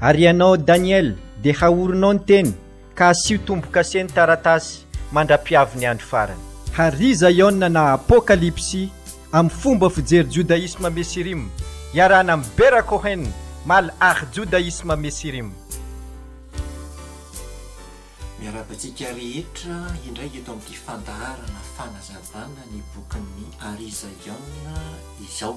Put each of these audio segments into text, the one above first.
Ary ianao Daniel, dia haorinao ny teny, ka asio tombo-kase ny taratasy, mandra-piavy ny andro farany. Hary Zaiona na Apokalypsy amin'ny fomba fijery Jodaisma Mesirim, iarahana amin'i Bera Cohen, Mal Ach Jodaisma Mesirim. Miarahaba antsika rehetra indray eto amin'ity fandaharana fanazavana ny bokin'ny Hary Zaiona izao.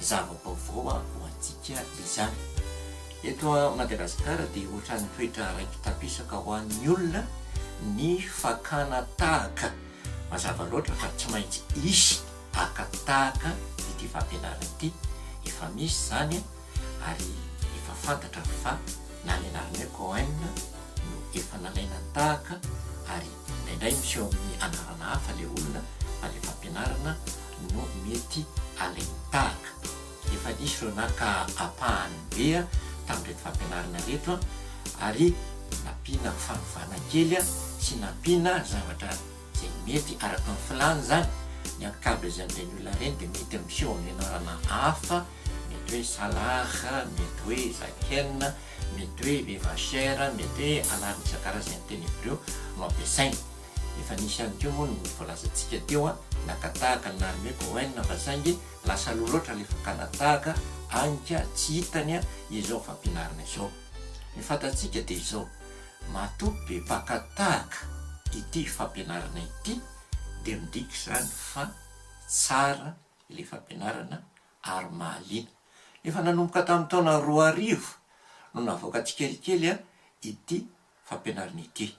Zava-baovao ho antsika izany. Eto Madagasikara dia ohatran'ny toetra raiki-tapisaka ho an'ny olona ny fakana tahaka. Mazava loatra fa tsy maintsy hisy haka tahaka ity fampianarana ity. Efa misy izany ary efa fantatra fa na ny anarana hoe Cohen no efa nalaina tahaka ary indraindray miseho amin'ny anarana hafa ilay olona fa ilay fampianarana no mety alemi-tahaka. Efa nisy ireo naka ampahany be tamin'ireto fampianarana ireto ary nampiana fanovana kely sy nampiana zavatra izay mety araka ny filàny izany. Ny ankabezan'ireny olona ireny dia mety miseho amin'ny anarana hafa, mety hoe Salar, mety hoe Zaken, mety hoe Vivachère, mety hoe anarana isan-karazany teny Hebreo no ampiasaina. Efa nisy ihany koa moa ny voalazantsika teo an, naka tahaka ny l'armée Cohen fa saingy lasa aloha loatra ilay fakana tahaka agny ka tsy hitany izao fampianarana izao. Ny fantatsika dia izao, matoa be mpaka tahaka ity fampianarana ity dia midika izany fa tsara ilay fampianarana ary mahaliana. Efa nanomboka tamin'ny taona roa arivo no navoaka tsikelikely ity fampianarana ity.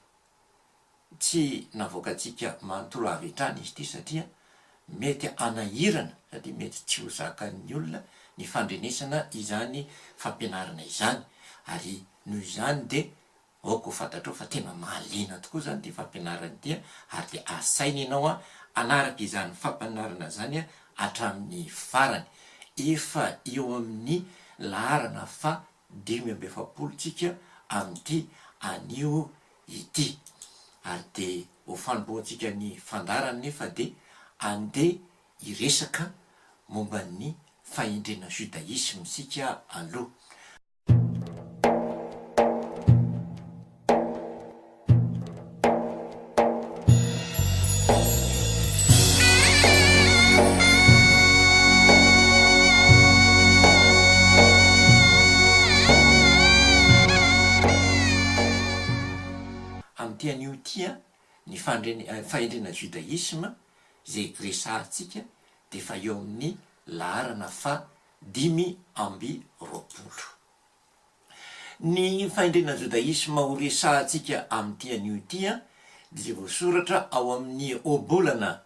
tsy navoakantsika manontolo avy hatrany izy ity satria mety hanahirana sady mety tsy ho zakan'ny olona ny fandrenesana izany fampianarana izany ary noho izany dia aoka ho fantatrao fa tena mahaliana tokoa izany ity fampianarana ity ary dia asaina ianao hanaraka izany fampianarana izany hatramin'ny farany. Efa eo amin'ny laharana faha dimy amby efapolo tsika amin'ity anio ity ary dia ho fanombohantsika ny fandaharana anefa dia andeha hiresaka momba ny fahendrena judaisme isika aloha. Amin'ity anio ity, ny fandreny, fahendrena judaisme, izay resahantsika dia efa eo amin'ny laharana faha dimy amby roapolo. Ny fahendrena jodaisma ho resahantsika amin'ity anio ity dia voasoratra ao amin'ny Ohabolana,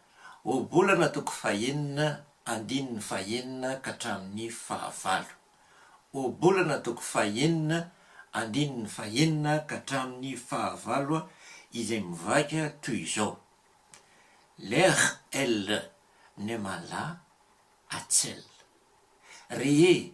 Ohabolana toko fahenina, andininy fahenina ka hatramin'ny fahavalo. Ohabolana toko fahenina, andininy fahenina ka hatramin'ny fahavalo izay mivaika toy izao, Leh el nemala atsel. Rehe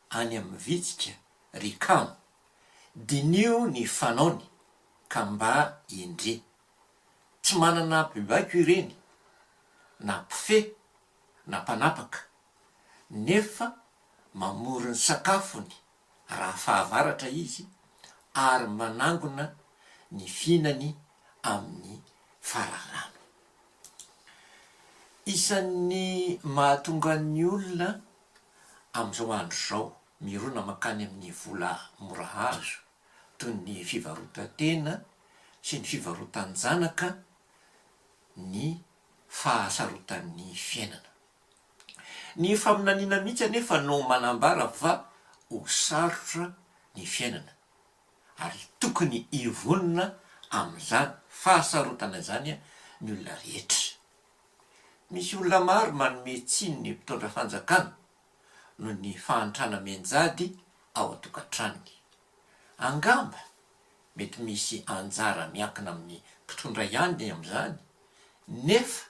any amin'ny vitsika ry kamo, diniho ny fanaony ka mba indri. Tsy manana mpibaiko ireny, na mpifehy na mpanapaka, nefa mamory ny sakafony raha fahavaratra izy ary manangona ny fihinany amin'ny fararano. Isan'ny mahatonga ny olona amin'izao andro izao mirona mankany amin'ny vola mora azo toy ny fivarotan-tena sy ny fivarotan-janaka ny fahasarotan'ny fiainana. Ny faminaniana mihitsy anefa no manambara fa ho sarotra ny fiainana ary tokony hivonona amin'izany fahasarotana izany ny olona rehetra. Misy olona maro manome tsiny ny mpitondra fanjakana noho ny fahantrana mianjady ao an-tokantranony. Angamba mety misy anjara miankina amin'ny mpitondra ihany ny amin'izany, nefa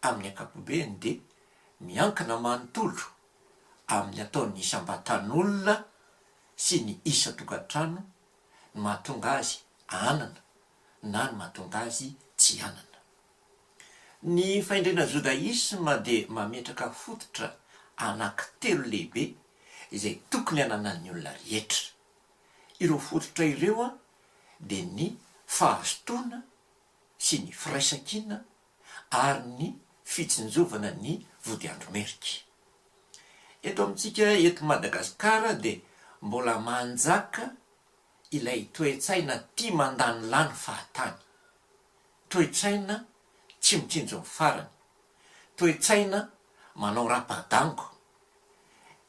amin'ny ankapobeny dia miankina manontolo amin'ny ataon'ny isam-batan'olona sy ny isan-tokantrano ny mahatonga azy hanana na ny mahatonga azy tsy hanana. Ny fahendrena jodaisma dia mametraka fototra anankitelo lehibe izay tokony hananan'ny olona rehetra. Ireo fototra ireo dia ny fahazotoana sy ny firaisankina ary ny fitsinjovana ny vodiandro merika. Eto amintsika eto Madagasikara dia mbola manjaka ilay toe-tsaina tia mandany lany fahatany. Toe-tsaina tsy mitsinjo ny farany. Toe-tsaina manao rapa-dango.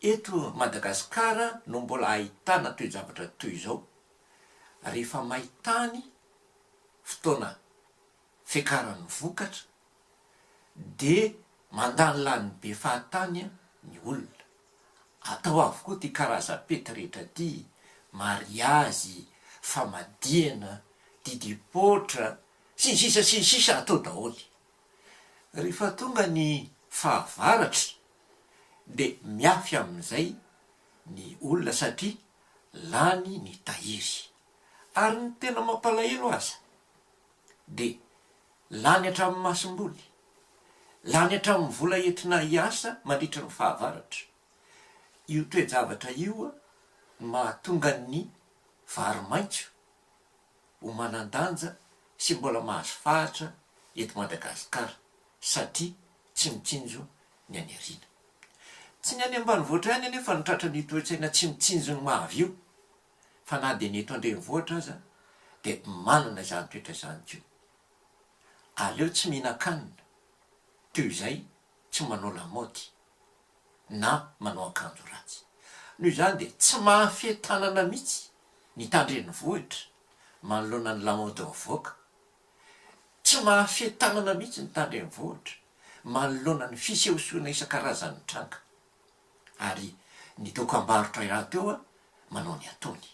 Eto Madagasikara no mbola ahitana toe-javatra toy izao. Rehefa may tany, fotoana fiakaran'ny vokatra, dia mandany lany be fahatany ny olona. Atao avokoa ity karazam-pety rehetra ity, mariazy, famadihana, didipoitra, sy ny sisa sy ny sisa atao daholo. Rehefa tonga ny fahavaratra dia miafy amin'izay ny olona satria lany ny tahiry. Ary ny tena mampalahelo aza, dia lany hatramin'ny masom-boly, lany hatramin'ny vola entina hiasa mandritra ny fahavaratra. Io toe-javatra io no mahatonga ny vary maitso ho manan-danja sy mbola mahazo fahatra eto Madagasikara satria tsy mitsinjo ny any aoriana. Tsy ny any ambanivohitra ihany anefa no tratran'io toe-tsaina tsy mitsinjo ny mahavy io. fa na dia ny eto an-drenivohitra aza dia manana izany toetra izany koa. Aleo tsy mihinan-kanina toy izay tsy manao lamaody na manao akanjo ratsy. Noho izany dia tsy mahafehy tanana mihitsy ny tan-drenivohitra manoloana ny lamaody mivoaka. Tsy mahafehy tanana mihitsy ny tan-drenivohitra manoloana ny fisehosehoana isan-karazany mitranga. ary ny dokam-barotra iray teo manao ny ataony.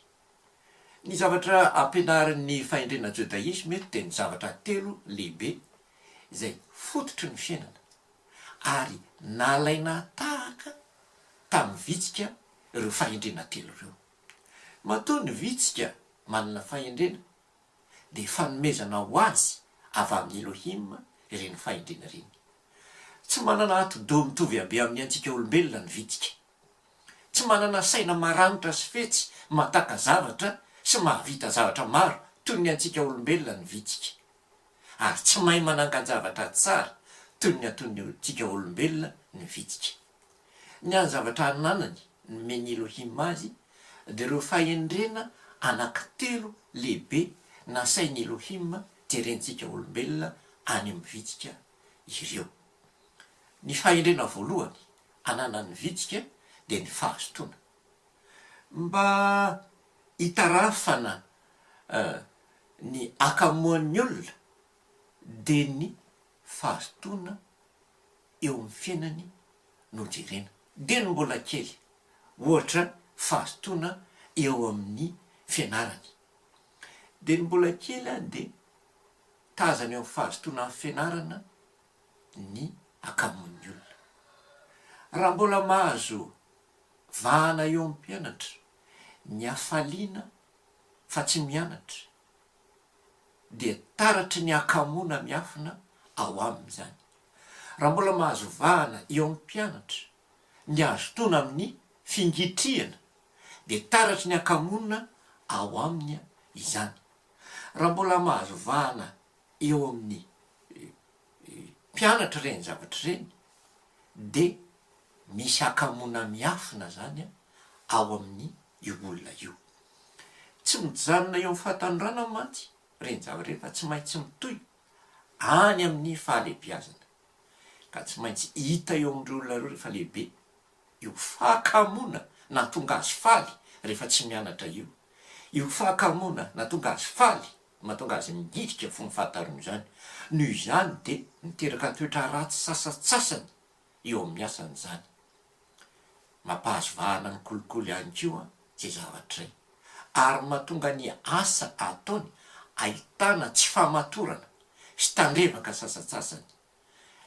Ny zavatra ampianarin'ny fahendrena jodaisma eto dia ny zavatra telo lehibe izay fototry ny fiainana ary nalaina tahaka tamin'ny vitsika ireo fahendrena telo ireo. Matoa ny vitsika manana fahendrena, dia fanomezana ho azy avy amin'i Elohim ireny fahendrena ireny. Tsy manana atidoha mitovy habe amin'ny antsika olombelona ny vitsika. Tsy manana saina maranitra sy fetsy mahataka zavatra sy mahavita zavatra maro toy ny antsika olombelona ny vitsika. Ary tsy mahay manangan-javatra tsara toy ny ataontsika olombelona ny vitsika. Ny hany-zavatra ananany nomen'i Elohim azy dia ireo fahendrena anankitelo lehibe nasain'i Elohim jerentsika olombelona any amin'ny vitsika ireo. Ny fahendrena voalohany ananan'ny vitsika dia ny fahazotoana. Mba hitarafana ny hakamoan'ny olona dia ny fahazotoana eo amin'ny fiainany no jerena. Dia ny mbola kely, ohatra fahazotoana eo amin'ny fianarany. Dia ny mbola kely dia tazana eo amin'ny fahazotoana amin'ny fianarana ny akamoan'ny olona. Raha mbola mahazo vahana eo amin'ny mpianatra ny hafaliana fa tsy mianatra, dia taratry ny hakamoana miafina ao aminy izany. Raha mbola mahazo vahana eo amin'ny mpianatra ny hazotoana amin'ny fingitrihana dia taratry ny hakamoana ao aminy izany. Raha mbola mahazo vahana eo amin'ny mpianatra ireny zavatra ireny dia misy hakamoana miafina zany ao amin'ny io olona io. Tsy mijanona eo amin'ny fahatanorana mantsy ireny zavatra ireny fa tsy maintsy mitohy any amin'ny fahalehibiazana. Ka tsy maintsy hita eo amin'ireo olona ireo rehefa lehibe io fahakamoana nahatonga azy faly rehefa tsy mianatra io, io fahakamoana nahatonga azy faly mahatonga azy mihidika fony fahatariana izany. Noho izany dia miteraka toetra ratsy sasantsasany. eo amin'ny asany izany. Mampahazo vahana ny kolikoly ihany koa izay zavatray ary mahatonga ny asa ataony ahitana tsy fahamatorana sy tandrevaka sasantsasany.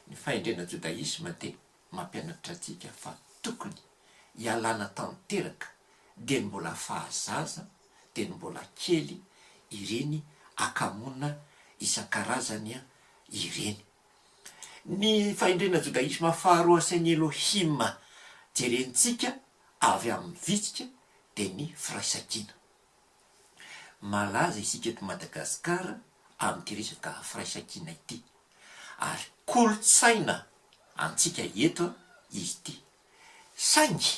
Ny fahendrena jodaisma dia mampianatra antsika fa tokony hialana tanteraka dieny mbola fahazaza dieny mbola kely ireny akamoana isan-karazany ireny. Ny fahendrena jodaisma faharoa asain'i Elohim jerentsika avy amin'ny vitsika dia ny firaisankina. Malaza isika eto Madagasikara amin'ity resaka firaisankina ity ary kolontsaina antsika eto izy ity. Saingy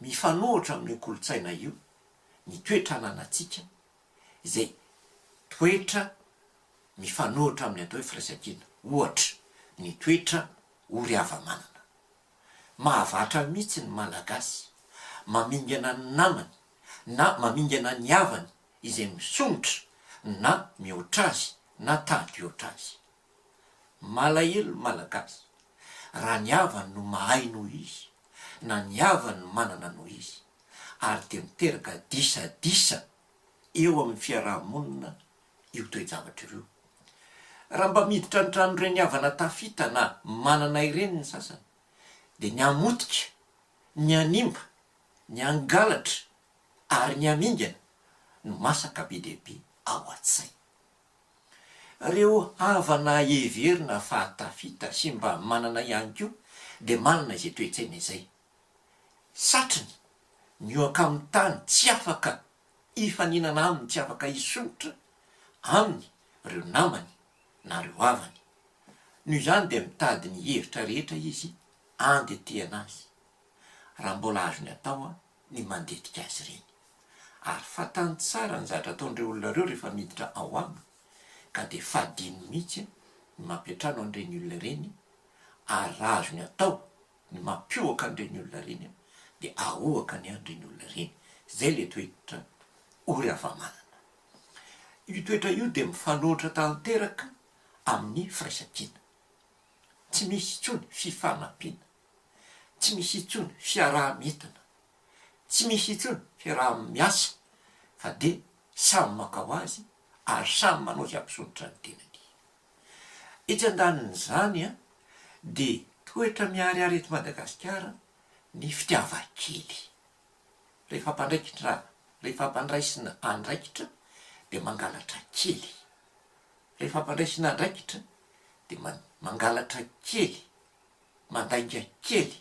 mifanohitra amin'io kolontsaina io ny toe-trananantsika izay toetra mifanohitra amin'ny atao hoe firaisankina, ohatra, ny toetra ory hava-manana. Mahavatra mihitsy ny Malagasy mamingana ny namany na mamingana ny havany izay misomotra na mihoatra azy na tahaka hihoatra azy. Malahelo ny Malagasy raha ny havany no mahay noho izy na ny havany no manana noho izy ary dia miteraka disadisa eo amin'ny fiaraha-monina io toe-javatra ireo. Raha mba miditra ny tranon'ireny havana tafita na manana ireny ny sasany dia ny hamotika, ny hanimba, ny hangalatra ary ny hamingana no masaka be dia be ao an-tsaina. Reo havana heverina fa tafita sy mba manana ihany koa dia manana izay toe-tsaina izay. Satriny, ny oaka amin'ny tany tsy afaka hifaninana aminy tsy afaka hisondrotra aminy reo namany na reo havany. Noho izany dia mitady ny hevitra rehetra izy andetehana azy. Raha mbola azony atao ny mandetika azy ireny. Ary fantany tsara ny zatra ataon'ireo olona ireo rehefa miditra ao aminy, ka dia fadiny mihitsy ny mampiantrano an'ireny olona ireny, ary raha azony atao ny mampihoaka an'ireny olona ireny, dia ahoaka ny an'ireny olona ireny. Izay ilay toetra O ry hava-manana. Io toetra io dia mifanohitra tanteraka amin'ny firaisan-kina. Tsy misy intsony fifanampiana. Tsy misy intsony fiaraha-mietana, tsy misy intsony fiaraha-miasa fa dia samy maka ho azy ary samy manao izay hampisotra ny tenany. Etsy andanin'izany dia toetra miharihary eto Madagasikara ny fitiavan-kely. Rehefa hampandraikitra, rehefa hampandraisina andraikitra dia mangalatra kely, rehefa hampandraisina andraikitra dia mangalatra kely. Mandainga kely,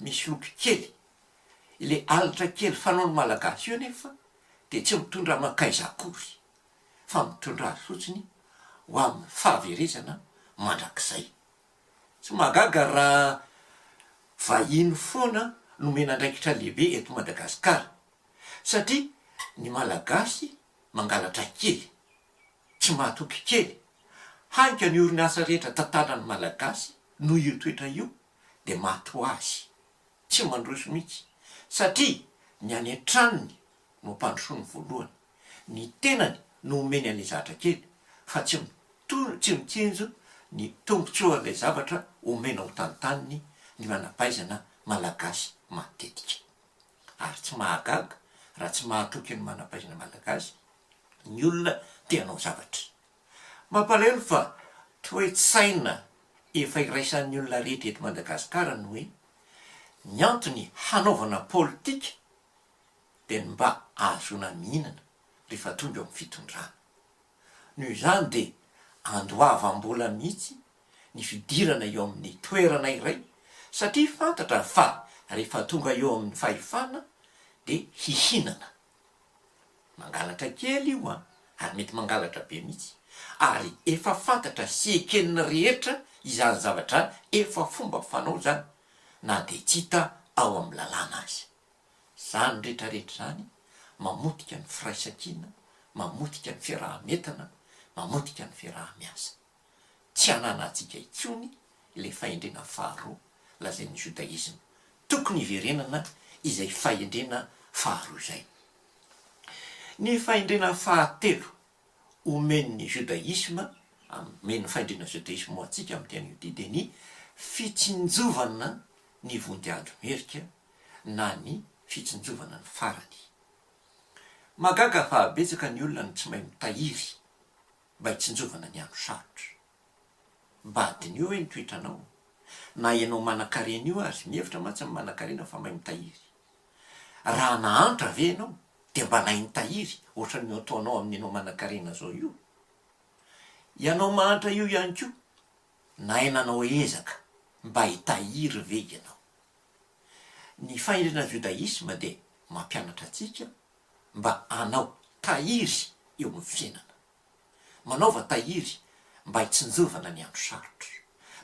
misy loto kely. Ilay alitra kely fanaon'ny Malagasy io anefa dia tsy mitondra mankaiza akory fa mitondra azy fotsiny ho amin'ny fahaverezana mandrakizay. Tsy mahagaga raha vahiny foana no omena andraikitra lehibe eto Madagasikara satria ny Malagasy mangalatra kely. tsy mahatoky kely. Hany ka ny orinasa rehetra tantanan'ny Malagasy noho io toetra io dia maty hoazy. Tsy mandroso mihitsy satria ny any an-tranony no ampandrosoany voalohany. Ny tenany no omeny an'ilay zatra kely fa tsy tsy mitsinjo ny tombotsoan'ilay zavatra omena ho tantaniny ny manampahaizana Malagasy matetika. Ary tsy mahagaga raha tsy mahatoky ny manampahaizana Malagasy ny olona te hanao zavatra. Mampalahelo fa toe-tsaina efa iraisan'ny olona rehetra eto Madagasikara ny hoe ny antony hanaovana politika dia ny mba ahazoana mihinana rehefa tonga eo amin'ny fitondrana. Noho izany dia andoavam-bola mihitsy ny fidirana eo amin'ny toerana iray satria fantatra fa rehefa tonga eo amin'ny fahefana dia hihinana. Mangalatra kely io an, ary mety mangalatra be mihitsy, ary efa fantatra sy eken'ny rehetra izany zavatra efa fomba fanao izany na dia tsy hita ao amin'ny lalàna aza. Izany rehetra rehetra izany mamotika ny firaisankina, mamotika ny fiaraha-mientana, mamotika ny fiaraha-miasa. Tsy ananantsika intsony ilay fahendrena faharoa lazain'ny Jodaisma. Tokony hiverenana izay fahendrena faharoa izay. Ny fahendrena fahatelo omen'ny Jodaisma, omen'ny fahendrena Jodaisma ho antsika amin'ny tena Jodia dia ny fitsinjovana ny vonjy andro merika na ny fitsinjovana ny farany. Mahagaga fa betsaka ny olona no tsy mahay mitahiry. mba hitsinjovana ny andro sarotra. Mba hadinio hoe ny toetranao. Na ianao manan-karena io aza, mihevitra mantsy ny manan-karena fa mahay mitahiry. Raha nahantra ve ianao dia mba nahay nitahiry ohatran'ny ataonao amin'ny ianao manan-karena izao io? Ianao mahantra io ihany koa, nahay nanao ezaka mba hitahiry ve ianao? Ny fahendrena judaisme dia mampianatra antsika mba hanao tahiry eo amin'ny fiainana. Manaova tahiry mba hitsinjovana ny andro sarotra.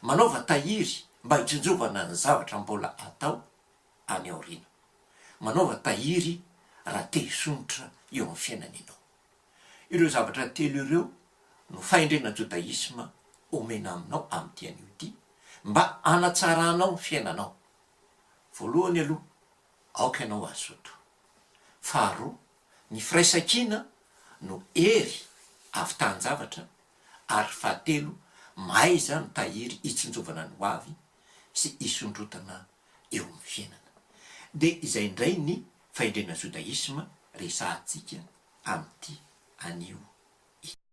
Manaova tahiry mba hitsinjovana ny zavatra mbola hatao any aoriana. Manaova tahiry raha te hisondrotra eo amin'ny fiainana ianao. Ireo zavatra telo ireo no fahendrena jodaisma omena aminao amin'ity anio ity mba hanatsaranao ny fiainanao. Voalohany aloha, aoka ianao hazoto. Faharoa, ny firaisankina no hery avitahan-javatra ary fahatelo, mahaiza mitahiry hitsinjovana ny hoavy sy hisondrotana eo amin'ny fiainana. Dia izay indray ny fahendrena Jodaisma resahantsika amin'ity anio ity.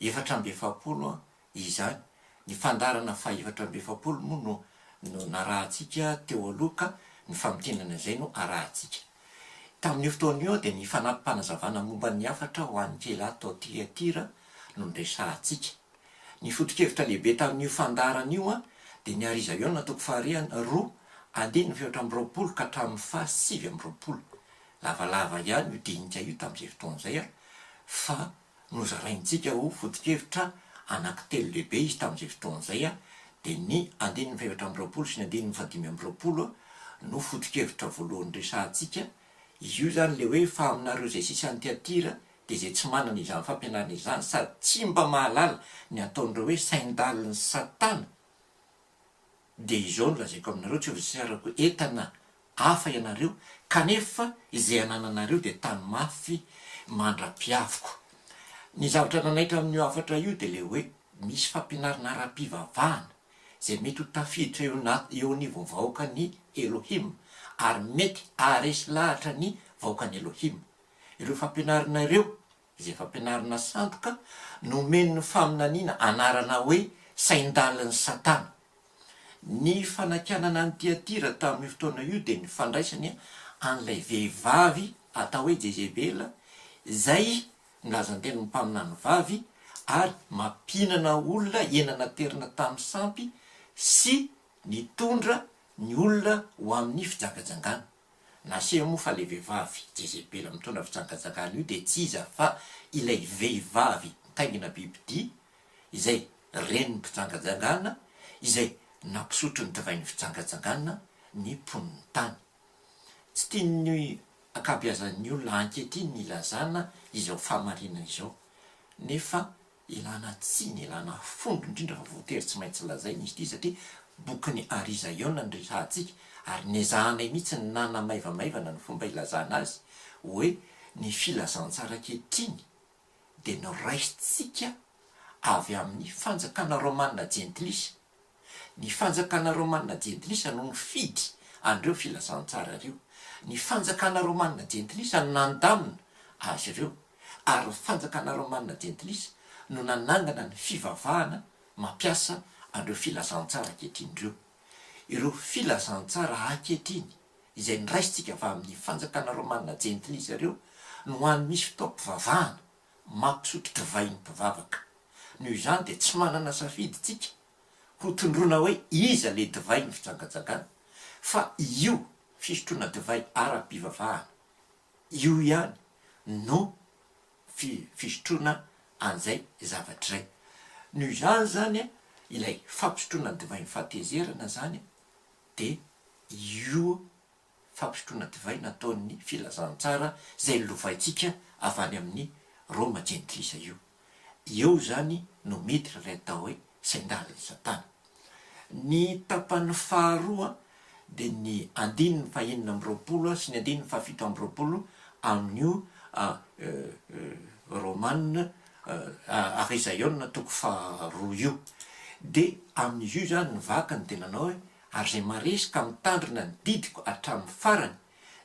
efatra amby efapolo izany. Ny fandaharana fahefatra amby efapolo moa no no narahantsika teo aloha ka ny famintinana izay no arahantsika. Tamin'io fotoana io dia ny fanampim-panazavana momba ny hafatra ho an'ny Keilah tao Tiatira no noresahantsika. Ny foto-kevitra lehibe tamin'io fandaharana io dia ny Ary Iza Iona toko faharian roa andininy fahefatra amby roapolo ka hatramin'ny faha sivy amby roapolo. Lavalava ihany io dinika io tamin'izay fotoana izay fa Nozaraintsika ho foto-kevitra anankitelo lehibe izy tamin'izay fotoana izay, dia ny andininy fahefatra amby roapolo sy ny andininy fahadimy amby roapolo no foto-kevitra voalohany resahantsika, izy io izany ilay hoe fa aminareo izay sisa any Tyatira dia izay tsy manana izany fampianarana izany sady tsy mba mahalala ny ataon'ireo hoe sain-dalin'i Satana, Dia izao no lazaiko aminareo, tsy ho zisarako entana hafa ianareo, kanefa izay anananareo dia tano mafy mandra-piaviko. Ny zavatra nanaitra amin'io hafatra io dia ilay hoe misy fampianarana ara-pivavahana izay mety ho tafiditra eo eo anivon'ny vahoakan'i Elohim, ary mety haharesy lahatra ny vahoakan'i Elohim. Ireo fampianarana ireo Izy efa ampianarina sandoka, nomen'ny faminaniana anarana hoe sain-dalin'i Satana. Ny fanakianana an'i Tyatira tamin'io fotoana io dia ny fandraisany an'ilay vehivavy atao hoe Jezebela, izay ny lazan-tenin'ny mpaminany vavy, ary mampihinana olona hena naterina tamin'ny sampy sy nitondra ny olona ho amin'ny fijangajangana. Naseho moa fa ilay vehivavy Jezebela mitondra fijangajangana io dia tsy iza fa ilay vehivavy nitaingina bibidia, izay renin'ny mpijangajangana, izay nampisotro ny divain'ny fijangajangana ny mponin'ny tany. Tsy tian'ny ankabeazan'ny olona ankehitriny ny hilazana izao fahamarinana izao, nefa Ilana tsiny, ilana fomba indrindra fa voatery tsy maintsy lazaina izy ity satria bokin'i Ari Zaiona no rehahantsika ary nezahanay mihitsy ny nanamaivamaivana ny fomba ilazana azy hoe ny filazantsara ankehitriny dia noraisitsika avy amin'ny fanjakana romana jentilisa Ny fanjakana romanina jentilisa no nifidy an'ireo filazantsara ireo. Ny fanjakana romanina jentilisa no nandamina azy ireo, ary ny fanjakana romanina jentilisa no nanangana ny fivavahana mampiasa an'ireo filazantsara ankehitriny ireo. Ireo filazantsara ankehitriny izay noraisintsika avy amin'ny fanjakana romanina jentilisa ireo no ho an'ny misy fotoam-pivavahana. mampisotro divay ny mpivavaka. Noho izany dia tsy manana safidy isika ho tondroina hoe iza ilay divay ny fijangajangana fa io fisotroana divay ara-pivavahana io ihany no fisotroana an'izay zavatra izay. Noho izany izany ilay fampisotroana ny divain'ny fahatezerana izany dia io fampisotroana divay nataon'ny Filazantsara izay lovaintsika avy any amin'ny Roma jentilisa io. Eo izany no miditra ilay atao hoe sain-dalin'i Satana. Ny tapany faharoa dia ny andininy fahenina amby roapolo sy ny andininy fahafito amby roapolo amin'io Romana Arizaiona toko faharoa io. Dia amin'izy io izany ny vakiny dia nanao hoe ary izay maresy ka mitandrina ny didiko hatramin'ny farany,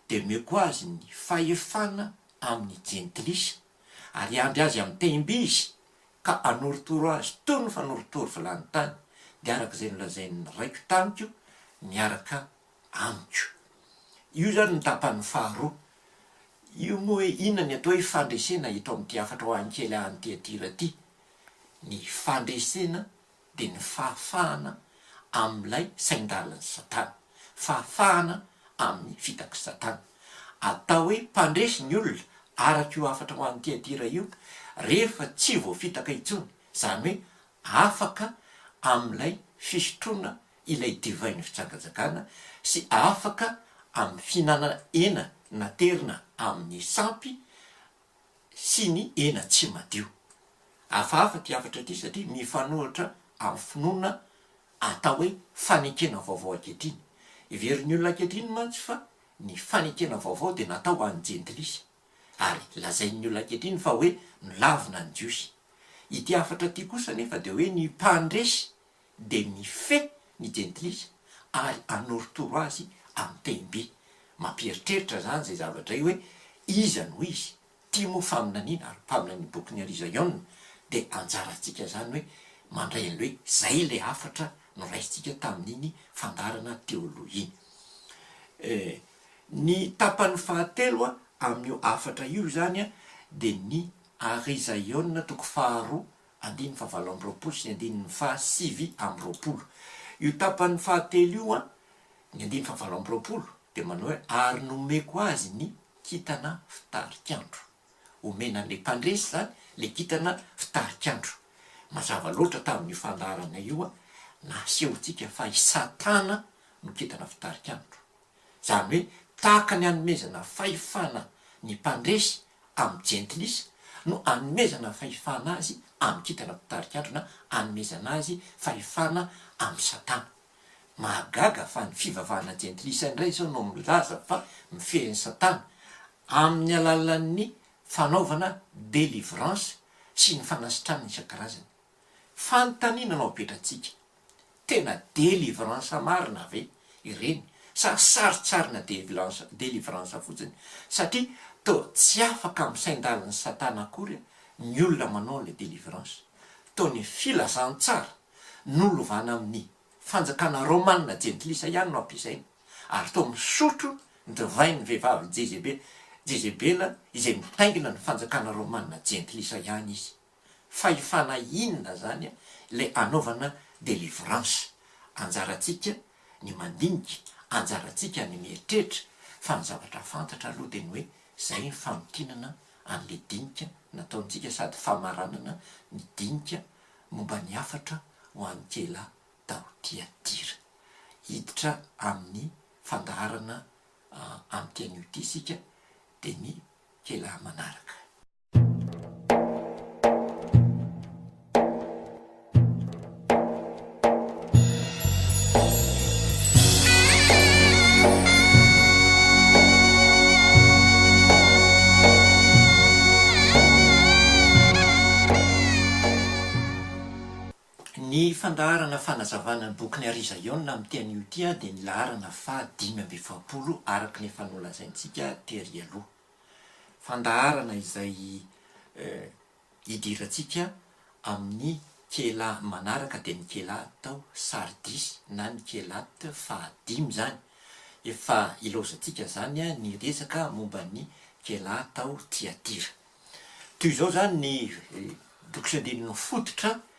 dia omeko azy ny fahefana amin'ny jentilisa, ary hiandry azy amin'ny tehim-by izy, ka hanorotoro azy toy ny fanorotoro vilany tany, dia araka izay nolazain'ny raiko tamiko miaraka amiko. Io izany no tapany faharoa. Io moa hoe inona ny atao hoe fandresena eto amin'ity hafatra ao Ankela any Tiatira ity? Ny fandresena dia ny fahafahana amin'ilay sain-dalin'i Satana, fahafahana amin'ny fitak'i Satana. Atao hoe mpandresy ny olona araka io hafatra ho an'i Tiatira io rehefa tsy voafitaka intsony, izany hoe afaka amin'ilay fisotroana ilay divain'ny fijangajangana sy afaka amin'ny fihinanana hena naterina amin'ny sampy sy ny hena tsy madio. Hafahafa ity hafatra ity satria mifanohitra amin'ny finoana atao hoe fanekena vaovao ankehitriny. Heverin'ny olona ankehitriny mantsy fa ny fanekena vaovao dia natao ho an'ny jentilisa, ary lazain'ny olona ankehitriny fa hoe milavina ny Jiosy. Ity hafatra ity kosa anefa dia hoe ny mpandresy dia mifehy ny jentilisa ary anorotoro azy amin'ny teny be. Mampieritreritra izany izay zavatra izay hoe, Iza no izy? Tia moa faminaniana ary mpaminany ny bokin'i Ary Zion dia anjarantsika izany hoe mandray an'ilay hoe izay ilay hafatra noraisintsika tamin'iny fandaharana teo aloha iny. Ny tapany fahatelo amin'io hafatra io izany dia ny Ary Zion toko faharoa Andininy fahavalo amby roapolo sy ny andininy fahasivy amby roapolo. Io tapany fahatelo io, ny andininy fahavalo amby roapolo, dia manao hoe, Ary nomeko azy ny kintana fitarikandro. Omena an'ilay mpandresy izany ilay kintana fitarikandro. Mazava loatra tamin'io fandaharana io, nasehontsika fa i Satana no kintana fitarikandro. Izany hoe tahaka ny hanomezana fahefana ny mpandresy amin'ny jentilisa no hanomezana fahefana azy amin'ny kintana mpitarika andro na hanomezana azy fahefana amin'ny satana. Mahagaga fa ny fivavahana jentilisa indray izao no milaza fa mifehy ny satana amin'ny alalan'ny fanaovana delivrance sy ny fanasitranana isan-karazany. Fanontaniana no apetratsika, tena delivrance marina ve ireny sa sarintsarina delivrance fotsiny satria toa tsy afaka amin'ny saindalin'i satana akory ny olona manao an'ilay delivrance. Toa ny filazantsara nolovana amin'ny fanjakana romana jentilisa ihany no ampiasaina ary toa misotro ny divain'ny vehivavy Jezebela izay mitaingina ny fanjakana romana jentilisa ihany izy. Fahefana inona zany le anaovana delivrance? Anjarantsika ny mandinika, anjarantsika ny mieritreritra, fa ny zavatra fantatra aloha de ny hoe zay ny famintinana anle dinika nataontsika sady famaranana ny dinika momba ny hafatra ho an'ikela tao Tiatira. Hiditra amin'ny fandaharana amin'ny teny io ity isika de ny kela manaraka. Ny fandaharana fanazavana ny bokin'i Arizaona amin'ny teny Utia dia ny laharana faha dimy amby efapolo araka ny efa nolazaintsika tery aloha. Fandaharana izay hidirantsika amin'ny kela manaraka dia ny kela tao Sardisy na ny kelat fahadimy izany. Efa ilaozantsika izany ny resaka momba ny kela tao Tiatira. Toy izao izany ny bokin'ny andininy fototra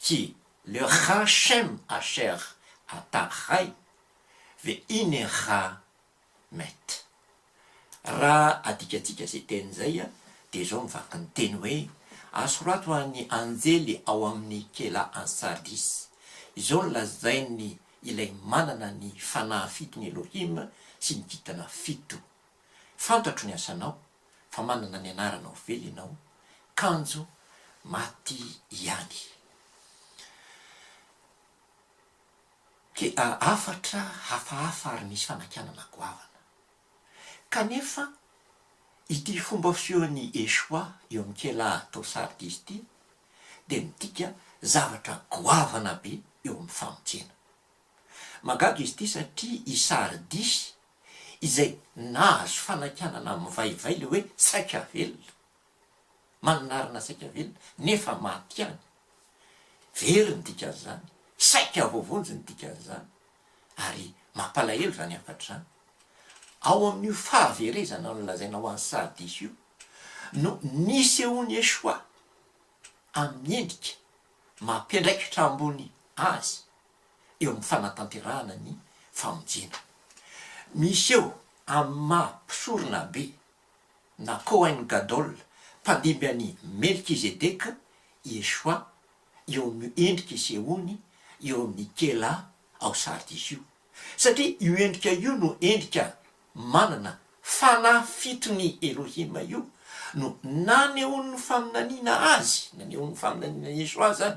Tsy le Hachem Asher ata hay ve'hine ha met. Raha adikatsika izay teny izay dia izao ny vaky ny teny hoe, Asorato ho an'ny anjely ao amin'ny kela any Sardis, Izao no lazain'ny Ilay manana ny fanahy fito ny Elohim sy ny kintana fito, Fantatro ny asanao fa manana ny anaranao vely ianao, kanjo maty ihany. Dia hafatra hafahafa ary nisy fanakianana goavana. Kanefa ity fomba fisehoan'i Yeshua eo amin'ny kela tao Sardis ity dia midika zavatra goavana be eo amin'ny famonjena. Mahagaga izy ity satria i Sardis izay nahazo fanakianana mivaivay ilay hoe saika velona, manonarana saika velona nefa maty ihany, very ny dikan'izany, saika voavonjy ny dikan'izany, ary mampalahelo izany hafatra izany. Ao amin'io fahaverezana nolazaina ho an'i Sardis io no nisehoan'i Yeshua. amin'ny endrika mampiandraikitra ambony azy eo amin'ny fanatanterahana ny famonjena. Miseho amin'ny maha mpisorona be na Kohen Gadol, mpandimby an'i Melkizedeka, Yeshua eo amin'io endrika isehoany eo amin'ny Kehlah ao Sardis io. satria io endrika io no endrika manana fanafitry ny Elohim io no nanehoan'ny faminaniana Azy, nanehoan'ny faminaniana an'i Yeshua izany,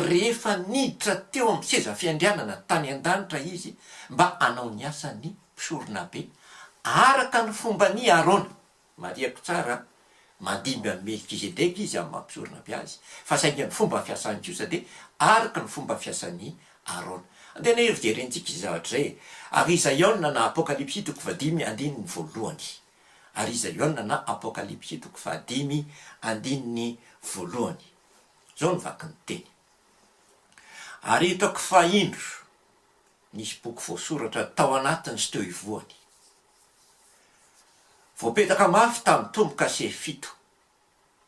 rehefa niditra teo amin'ny seza fiandrianana tany an-danitra Izy mba hanao ny asan'ny mpisoronabe araka ny fomban'i Arona. Marihako tsara, mandimby an'i Melkizedeka izy amin'ny maha-mpisorona be azy, fa saingy ny fomba fiasany kosa dia araka ny fomba fiasan'i Arona. Andeha anie hojerentsika izay zavatra izay e! Ary iza Iona na Apokalypsy toko fahadimy andininy voalohany? Ary iza Iona na Apokalypsy toko fahadimy andininy voalohany? Izao no vaky ny teny, Ary hitako fa indro, nisy boky voasoratra tao anatiny sy teo ivohony. Voapetraka mafy tamin'ny tombo-kase fito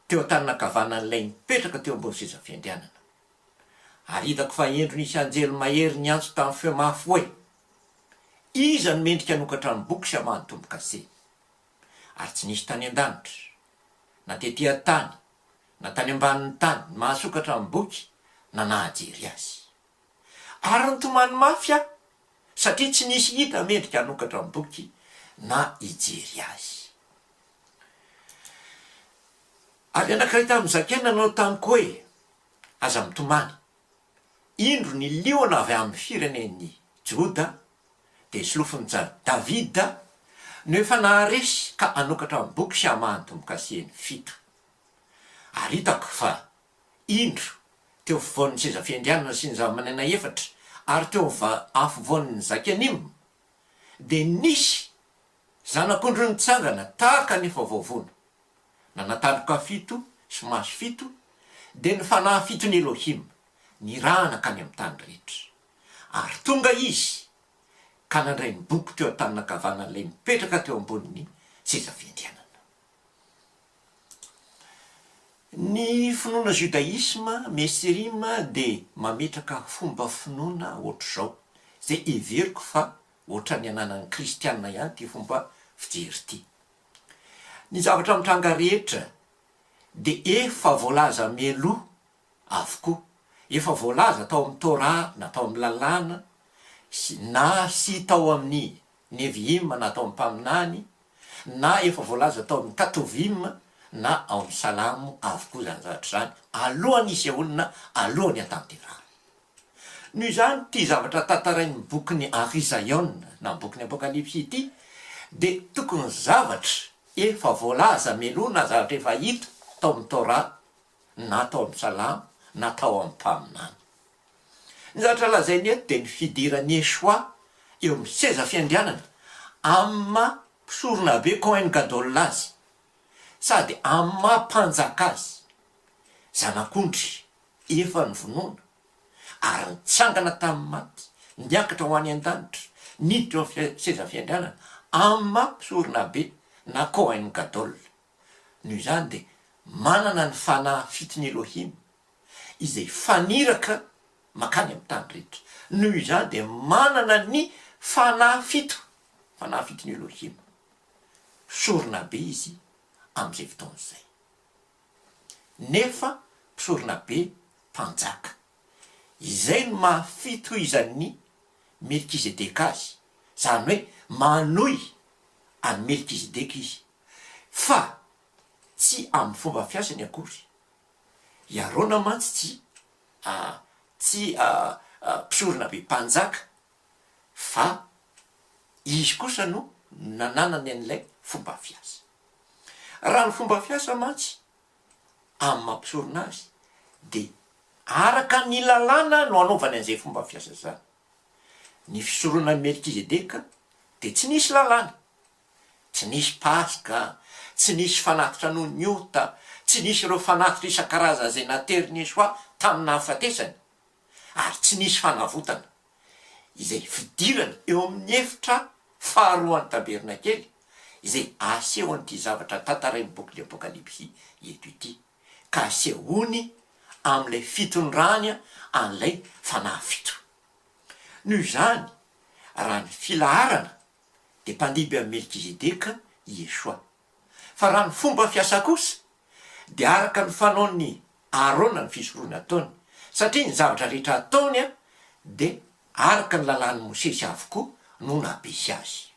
teo an-tanana ankavanan'ilay nipetraka teo ambony sezafiandrianana. Ary hitako fa indro nisy anjely mahery niantso tamin'ny feo mafy hoe, Iza no mendrika hanokatra ny boky sy hamaha ny tombo-kase? Ary tsy nisy tany an-danitra, na tety an-tany, na tany ambanin'ny tany, ny mahasokatra ny boky na nahajery azy. Ary nitomany mafy aho satria tsy nisy hita mendrika hanokatra ny boky na hijery azy. Ary anankiray tamin'ny zakaina nanao tamiko hoe, Aza mitomany. Indro ny liona avy amin'ny firenen'i Joda, dia solofon'i Davida, no efa naharesy ka hanokatra ny boky sy hamaha ny tombo-kasihiny fito. Ary hitako fa indro, teo afovoan' ny seza fiandrianana sy ny zavamananaina efatra, ary teo ava afovoan' ny zakan'Im, dia nisy zanak'ondry nitsangana tahaka ny efa voavono, nana tandroka fito sy maso fito, dia ny fanahy fiton' Elohim nirahana hankany amin' ny tany rehetra. Ary tonga izy ka nandray ny boky teo an-tanan' ankavanany ilay nipetraka teo ambonin' ny seza fiandrianana. Ny finoana judaisma mesrim dia mametraka fomba finoana ohatr'izao, izay heveriko fa ohatran'ny ananan'ny kristiana ihany ity fomba fijery ity. Ny zavatra mitranga rehetra dia efa voalaza mialoha avokoa. Efa voalaza tao amin'ny Torah na tao amin'ny Lalàna sy na sy tao amin'ny Nevi'im na tao amin'ny Mpaminany na efa voalaza tao amin'ny Katuvim na ao amin'ny Salamo avokoa izany zavatra izany alohan'ny hisy olona, alohan'ny hatanterahana. Noho izany, ity zavatra tantarain'ny bokin'i Ari Zion na ny bokin'ny Apokalypsy ity dia tokony zavatra efa voalaza melohina, zavatra efa hita tao amin'ny Torah na tao amin'ny Salamo na tao amin'ny Mpaminany. Ny zavatra lazainy eto dia ny fidiran'i Yeshua eo amin'ny seza fiandrianana amin'ny maha Mpisoronabe, Kohen Gadol, azy sady amin'ny maha Mpanjaka azy. Zanak'ondry efa novonoina ary nitsangana tamin'ny maty, niakatra ho any an-danitra, niditra eo amin'ny seza fiandrianana amin'ny maha Mpisoronabe na Kohen Gadol. Noho izany dia manana ny fanahy fitin'i Elohim izay faniraka mankany amin'ny tany rehetra. Noho izany dia manana ny fanahy fito, fanahy fitin'i Elohim. Mpisorona be izy amin'izay fotoana izay. Nefa mpisorona be mpanjaka. Izay no maha fitohizan'i Melkizedeka azy, izany hoe manohy an'i Melkizedeka izy. fa tsy amin'ny fomba fiasany akory. I Arona mantsy tsy a tsy a a mpisorona be mpanjaka, fa izy kosa no nananany an'ilay fomba fiasa. Raha ny fomba fiasa mantsy amin'ny maha mpisorona azy, dia araka ny lalàna no anaovany an'izay fomba fiasa izany. Ny fisoronan'i Melkizedeka dia tsy nisy lalàna. Tsy nisy Paska, tsy nisy fanatitra noho ny ota, tsy nisy ireo fanatitra isan-karazany izay naterin'i Yeshua tamin'ny nahafatesany, ary tsy nisy fanavotana, izay fidirana eo amin'ny efitra faharoan'ny tabernakely, izay asehon'ity zavatra tantarain'ny bokin'ny Apokalypsy eto ity, ka asehony amin'ilay fitondrany an'ilay fanahy fito. Noho izany, raha ny filaharana, dia mpandiby amin'i Melkizedeka i Yeshua. Fa raha ny fomba fiasa kosa, dia araka ny fanaon'i Arona ny fisoroana ataony, satria ny zavatra rehetra ataony dia araka ny lalàn'i Mosesy avokoa no nampisy azy.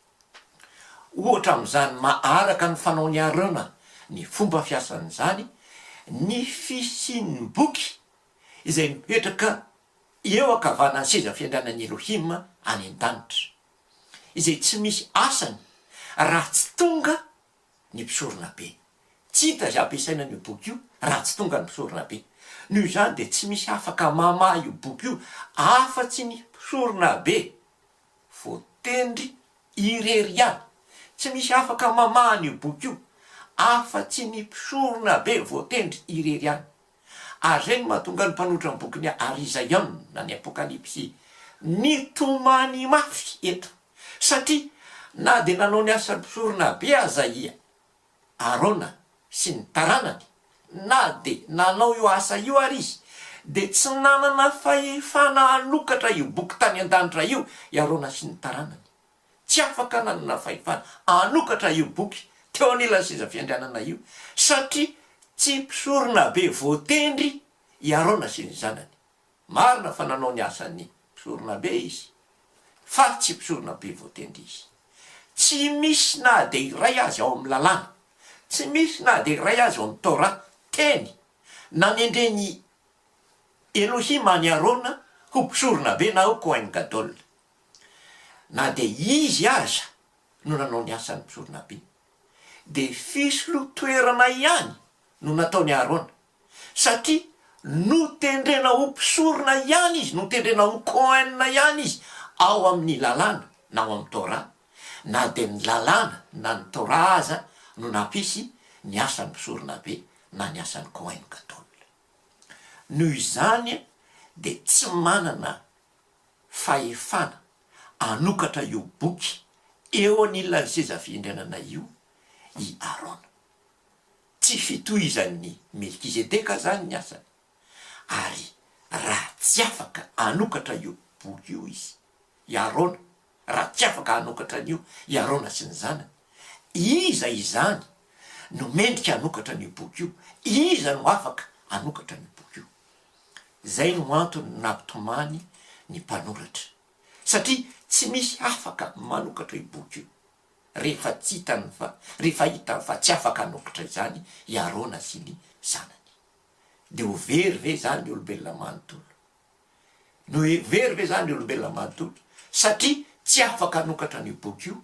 Ohatra amin'izany maha araka ny fanaon'i Arona ny fomba fiasan'izany ny fisian'ny boky izay mipetraka eo ankavanan'ny seza fiandrianan'i Elohim any an-danitra. izay tsy misy asany raha tsy tonga ny mpisoronabe. Tsy hita izay ampiasaina an'io boky io raha tsy tonga ny mpisoronabe. Noho izany dia tsy misy afaka mamaha io boky io afa-tsy ny mpisoronabe voatendry irery ihany. Tsy misy afaka mamaha an'io boky io afa-tsy ny mpisoronabe voatendry irery ihany. Ary izay no mahatonga ny mpanoratra ny bokin'i Ary Isaion na ny Apokalypsy nitomany mafy eto, satria na dia nanao ny asa mpisorona be aza i Arona sy ny taranany, na dia nanao io asa io ary izy, dia tsy nanana fahefana hanokatra io boky tany an-danitra io i Arona sy ny taranany. tsy afaka nanana fahefana hanokatra io boky teo anilan'ny seza fiandrianana io satria tsy mpisorona be voatendry i Arona sy ny zanany. Marina fa nanao ny asan'ny mpisorona be izy fa tsy mpisorona be voatendry izy. Tsy misy na dia iray azy ao amin'ny Lalàna, tsy misy na dia iray azy ao amin'ny Torah teny nanendren'i Elohim an'i Arona ho mpisorona be na ho Kohen Gadol. na dia izy aza no nanao ny asan'ny mpisorona-be, dia fisolotoerana ihany no nataon'i Arona, satria notendrena ho mpisorona ihany izy, notendrena ho Kohen ihany izy ao amin'ny Lalàna na ao amin'ny Torah, na dia ny Lalàna na ny Torah aza no nampisy ny asan'ny mpisorona-be na ny asan'ny Kohen Gadol. Noho izany dia tsy manana fahefana hanokatra io boky eo anilan'ny seza fiandrianana io i Arona. Tsy fitohizan'i Melkizedeka izany ny asany, ary raha tsy afaka hanokatra io boky io izy, i Arona, Raha tsy afaka hanokatra an'io i Arona sy ny zanany, iza izany no mendrika hanokatra an'io boky io? Iza no afaka hanokatra an'io boky io? Izay no antony nampitomany ny mpanoratra, satria tsy misy afaka manokatra io boky io, rehefa tsy hitany fa, rehefa hitany fa tsy afaka hanokatra izany i Arona sy ny zanany. Dia ho very ve izany ny olombelona manontolo? No very ve izany ny olombelona manontolo satria tsy afaka hanokatra an'io boky io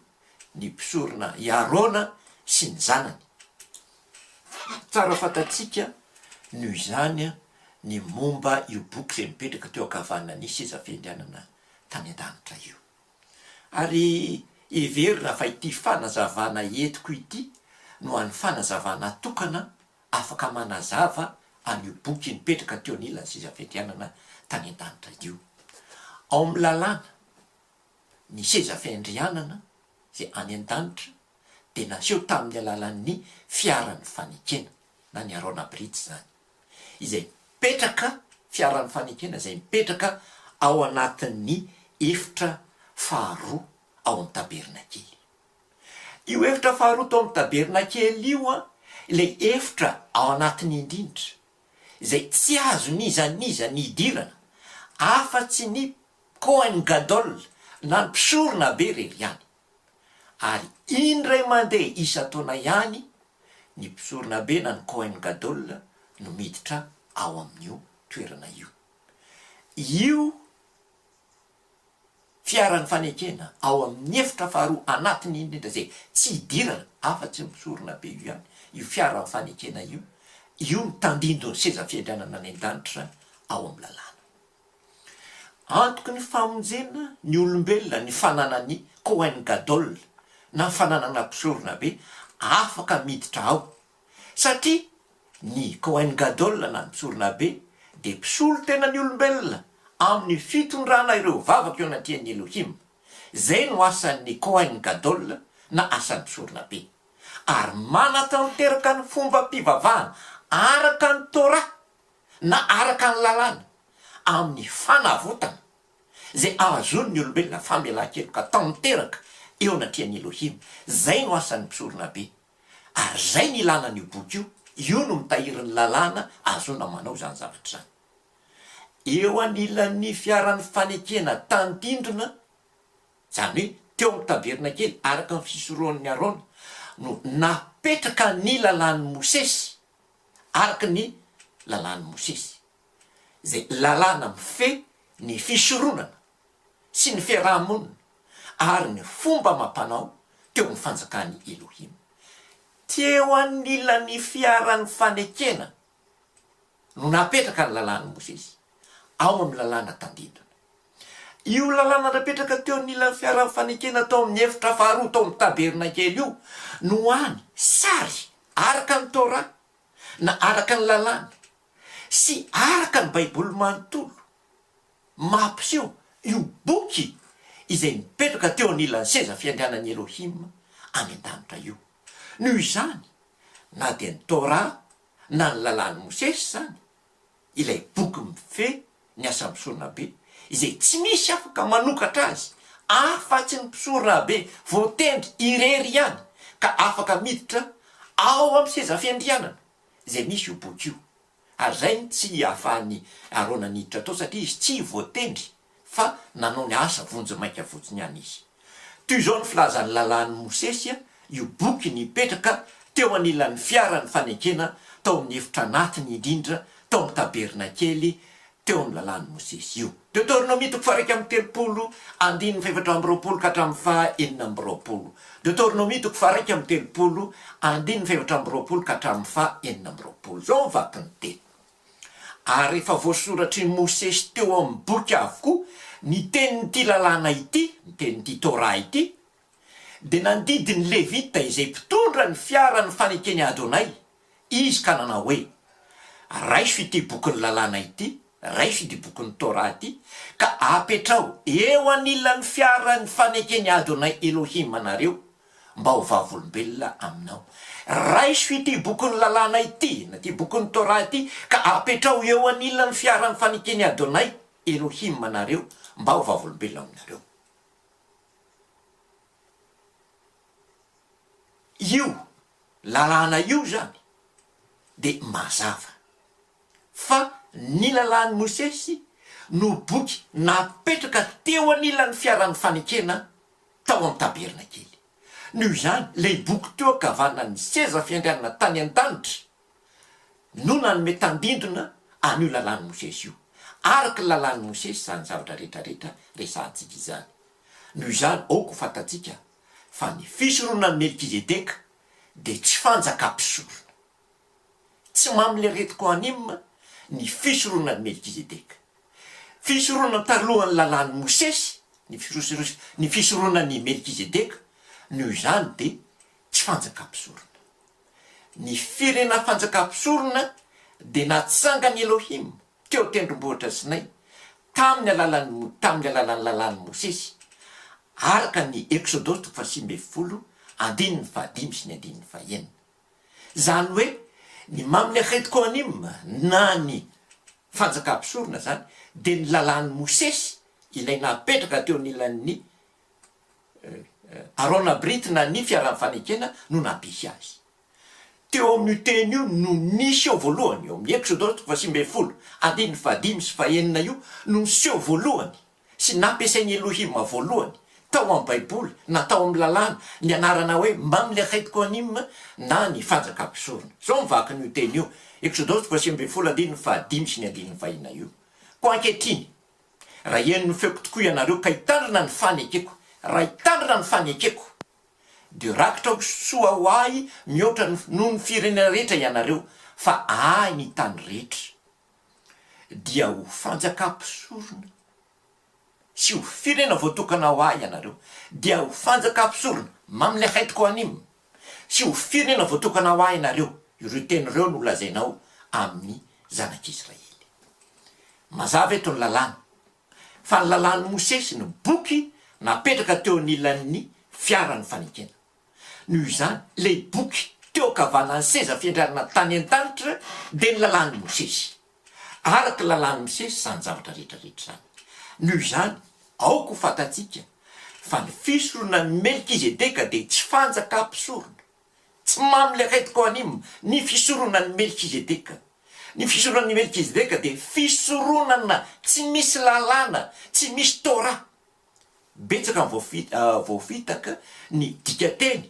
ny mpisorona i Arona sy ny zanany? Tsara fantatsika noho izany ny momba io boky izay mipetraka teo ankavanan'ny seza fiandrianana tany an-danitra io. Ary heverina fa ity fanazavana entiko ity no an'ny fanazavana tokana afaka manazava an'io boky nipetraka teo anilan'ny seza fiandrianana tany an-danitra io. Ao amin'ny lalàna, ny seza fiandrianana izay any an-danitra dia naseho tamin'ny alalan'ny fiaran'ny fanekena, na ny Arona Brit izany, izay mipetraka, fiaran'ny fanekena izay mipetraka ao anatin'ny efitra faharoa ao amin'ny tabernakely. Io efitra faharoa tao amin'ny tabernakely io, ilay efitra ao anatiny indrindra, izay tsy azon'iza n'iza ny hidirana, afa-tsy ny Kohen Gadol, na ny mpisorona be irery ihany. Ary indray mandeha isan-taona ihany ny mpisorona be na ny Kohen Gadol no miditra ao amin'io toerana io. Io. fiaran'ny fanekena ao amin'ny efitra faharoa anatiny indrindra izay tsy hidirana afa-tsy misorona be io ihany io fiaran'ny fanekena io, io no tandindon'ny seza fiandrianana any an-danitra ao amin'ny lalàna. Antoky ny famonjena ny olombelona ny fananany Kohen Gadol na fananana mpisoronabe afaka miditra ao satria ny Kohen Gadol na ny Tsorina Be dia mpisolo tena ny olombelona amin'ny fitondrana ireo vavaka eo anatrehan'i Elohim. Izay no asan'ny Kohen Gadol na asan'ny Tsorina Be. Ary manatanteraka ny fombam-pivavahana araka ny Torah na araka ny Lalàna amin'ny fanavotana izay ahazoan'ny olombelona famelan-keloka tanteraka eo anatrehan'i Elohim. Izay no asan'ny Tsorina Be. Ary izay no ilana an'io boky io, io no mitahiry ny lalàna ahazoana manao izany zavatra izany. Eo anilan'ny fiaran'ny fanekena tandindona, izany hoe teo amin'ny tabernakely, araka ny fisorohan'i Arona, no napetraka ny lalàn'i Mosesy, araka ny lalàn'i Mosesy, izay lalàna mifehy ny fisoronana. sy ny fiaraha-monina ary ny fomba amam-panao teo amin'ny fanjakan'i Elohim. Teo anilan'ny fiaran'ny fanekena no napetraka ny Lalàn'i Mosesy, ao amin'ny Lalàna tandindona. Io Lalàna napetraka teo anilan'ny fiaran'ny fanekena tao amin'ny efitra faharoa tao amin'ny tabernakely io no hany sary araka ny Torah, na araka ny Lalàna, sy araka ny Baiboly manontolo. mampiseho io boky izay nipetraka teo anilan'ny seza fiandrianan'i Elohim any an-danitra io. Noho izany, na dia ny Torah na ny Lalàn'i Mosesy izany, ilay boky mifehy ny asa misoronabe izay tsy misy afaka manokatra azy afa-tsy ny mpisoronabe voatendry irery ihany ka afaka miditra ao amin'ny seza fiandrianana izay misy io boky io. ary izay no tsy ahafahan'i Arona niditra tao satria izy tsy voatendry fa nanao ny asa vonjimaika fotsiny ihany izy. Toy izao ny filazan'ny Lalàn'i Mosesy io boky nipetraka teo anilan'ny fiaran'ny fanekena tao amin'ny efitra anatiny indrindra tao amin'ny tabernakely teo amin'ny Lalàn'i Mosesy io. Deoteronomia toko faha-iraika amby telopolo, andininy fahefatra amby roapolo ka hatramin'ny faha-enina amby roapolo. Deoteronomia toko faha-iraika amby telopolo, andininy fahefatra amby roapolo ka hatramin'ny faha-enina amby roapolo. Izao ny vakin'ny teny, Ary efa voasoratr'i Mosesy teo amin'ny boky avokoa ny tenin'ity Lalàna ity, ny tenin'ity Torah ity, Dia nandidy ny Levita izay mpitondra ny fiara ny fanekeny Adonay, izy ka nanao hoe, Raiso ity bokin'ny lalàna ity, raiso ity bokin'ny Torah ity, ka apetraho eo anilan'ny fiara ny fanekeny Adonay Elohim anareo, mba ho vavolombelona aminao. Raiso ity bokin'ny lalàna ity, na ity bokin'ny Torah ity, ka apetraho eo anilan'ny fiara ny fanekeny Adonay Elohim anareo, mba ho vavolombelona aminareo. Io lalàna io izany dia mazava fa ny lalàn'i Mosesy no boky napetraka teo anilan'ny fiaran'ny fanekena tao amin'ny tabernakely. Noho izany, ilay boky teo ankavanan'ny seza fiandrianana tany an-danitra, no nanome tandindona an'io Lalàn'i Mosesy io. Araka ny Lalàn'i Mosesy izany zavatra rehetrarehetra resahantsika izany. Noho izany, aoka ho fantatsika fa ny fisoronan'i Melkizedeka dia tsy fanjaka mpisorona. Tsy mamileret'i Kohanim ny fisoronan'i Melkizedeka. Fisoronana talohan'ny Lalàn'i Mosesy ny ny fisoronan'i Melkizedeka, noho izany dia tsy fanjaka mpisorona. Ny firenena fanjakam-pisorona dia natsangan'i Elohim teo an-tendrombohitra Sinay tamin'ny alalan'ny tamin'ny alalan'ny lalàn'i Mosesy, araka ny Eksodosy toko fahasivy ambin'ny folo andininy fahadimy sy ny andininy fahenina. Izany hoe ny Mamlechet Kohanim na ny fanjakam-pisorona izany dia ny lalàn'i Mosesy ilay napetraka teo anilan'ny Arona Brit na ny fiaran'ny fanekena no nampihy azy. Teo amin'io teny io no nisy eo voalohany, eo amin'ny Eksodos toko fahasivy ambin'ny folo, andininy fahadimy sy fahenina io no niseho voalohany sy nampiasain'i Elohima voalohany tao amin'ny Baiboly na tao amin'ny Lalàna ny anarana hoe Mamlekhaït Kohanim na ny Fanjaka Mpisorona. Izao ny vakin'io teny io, Eksodos toko fahasivy ambin'ny folo andininy fahadimy sy ny andininy fahenina io, Koa ankehitriny, Raha hihaino ny feoko tokoa ianareo ka hitandrina ny fanekeko, raha hitandrina ny fanekeko, dia rakitra ho soa ho ahy mihoatra noho ny firenena rehetra ianareo, fa ahy ny tany rehetra, dia ho fanjakam-pisorona, sy ho firenena voatokana ho ahy ianareo, dia ho fanjakam-pisorona, mamin'ny haitiko anim, Tsy ho firenena voatokana ho Ahy ianareo, ireo teny ireo no holazainao amin'ny zanak'Israely. Mazava eto ny Lalàna, fa ny Lalàn'i Mosesy no boky napetraka teo anilan'ny fiaran'ny fanekena. Noho izany, ilay boky teo ankavanan'ny seza fiandrianana tany an-danitra dia ny Lalàn'i Mosesy. araka ny lalàn'ny misesy izany zavatra rehetra rehetra izany. Noho izany, aoka ho fantatsika fa ny fisoronan'i Melkizedeka dia tsy fanjaka mpisorona. Tsy mamily akaiky koanim ny fisoronan'i Melkizedeka. Ny fisoronan'i Melkizedeka dia fisoronana tsy misy lalàna, tsy misy Torah. Betsaka ny voafitaka ny dikateny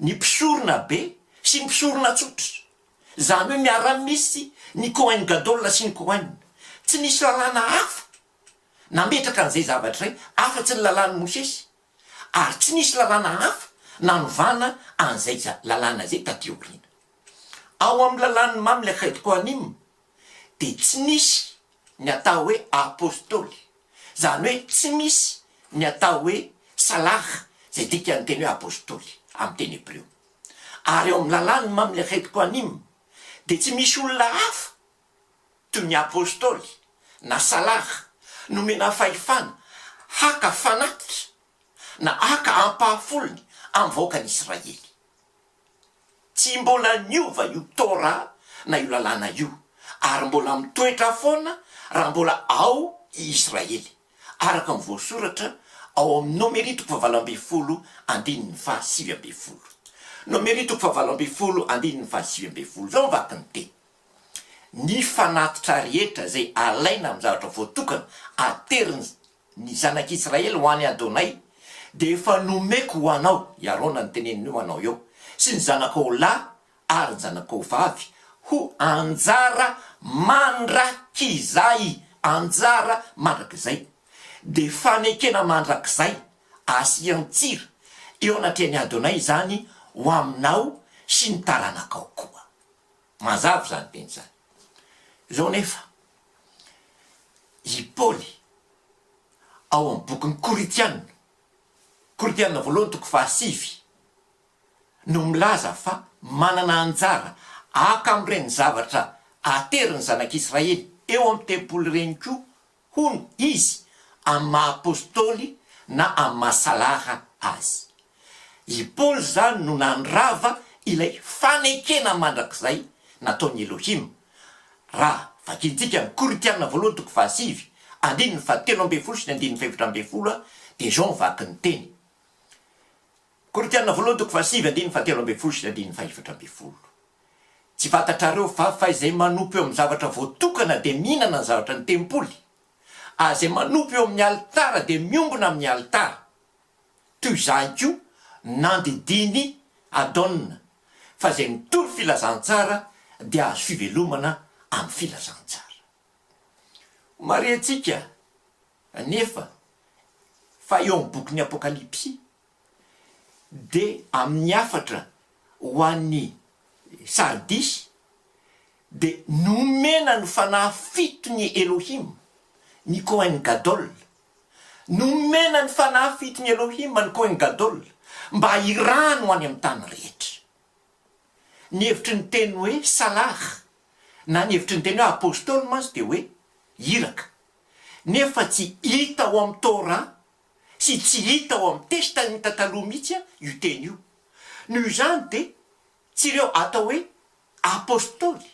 ny mpisorona be sy ny mpisorona tsotra, izany hoe miara-misy ny Kohen Gadol sy ny Kohen. Tsy nisy lalàna hafa nametraka an'izay zavatra izay afa-tsy ny lalàn'i Mosesy, ary tsy nisy lalàna hafa nanovana an'izay lalàna izay taty aoriana. Ao amin'ny lalàn'ny Mamlech het-Kohanim dia tsy misy ny atao hoe Apostoly, izany hoe tsy misy ny atao hoe Salah izay dikan'ny teny hoe Apostoly amin'ny teny hebreo. Ary eo amin'ny lalàn'ny Mamlekhet Kohanim dia tsy misy olona hafa toy ny Apostoly na Salah nomena fahefana haka fanatitra na haka ampahafolony amin'ny vahoakan'Israely. Tsy mbola niova io Torah na io Lalàna io, ary mbola mitoetra foana raha mbola ao i Israely, araka ny voasoratra ao amin'ny Nomeria toko fahavalo ambin'ny folo andininy fahasivy ambin'ny folo. Nomeria toko fahavalo ambin'ny folo andininy fahasivy ambin'ny folo. Izao ny vakin'ny teny, Ny fanatitra rehetra izay alaina amin'ny zavatra voatokana ateriny ny zanak'i Israely ho an'i Adonay, dia efa nomeko ho anao i Arona ny tenen'io anao eo, sy ny zanakao ho lahy ary ny zanakao ho vavy ho anjara mandrakizay, anjara mandrakizay, dia fanekena mandrakizay, asian-tsira eo anatrehan'i Adonay izany ho aminao sy ny taranakao koa. Mazava izany teny izany. Izao anefa, i Paoly ao amin'ny bokin'ny Korintiana, Korintiana voalohany toko fahasivy, no milaza fa manana anjara haka amin'ireny zavatra atery ny zanak'Israely eo amin'ny tempoly ireny koa hono, izy amin'ny maha apostoly na amin'ny maha salahra azy. I Paoly izany no nandrava ilay fanekena mandrakizay nataon'i Elohim. Raha vakintsika ny Korintiana voalohany toko fahasivy, andininy fahatelo ambin'ny folo sy ny andininy fahefatra ambin'ny folo dia izao ny vakin'ny teny, Korintiana voalohany toko fahasivy andininy fahatelo ambin'ny folo sy andininy fahefatra ambin'ny folo Tsy fantatrareo va fa izay manompo eo amin'ny zavatra voatokana dia mihinana ny zavatra ny tempoly, ary izay manompo eo amin'ny alitara dia miombona amin'ny alitara? Toy izany koa nandidiany Adona fa izay mitory filazantsara dia azo fivelomana amin'ny filazantsara. Marihintsika anefa fa eo amin'ny bokin'ny Apokalypsy Dia amin' ny hafatra ho an' i Sardisy, dia nomena ny fanahy fito ny Elohim, ny Kohen Gadol, nomena ny fanahy fito ny Elohim an' ny Kohen Gadol mba hirano any amin' ny tany rehetra. Ny hevitry ny teny hoe salah, na ny hevitry ny teny hoe apôstôly mantsy dia hoe iraka, nefa tsy hita ao amin' ny Torah sy tsy hita ao amin'ny testa inta taloha mihitsy io teny io. Noho izany dia tsy ireo atao hoe Apostoly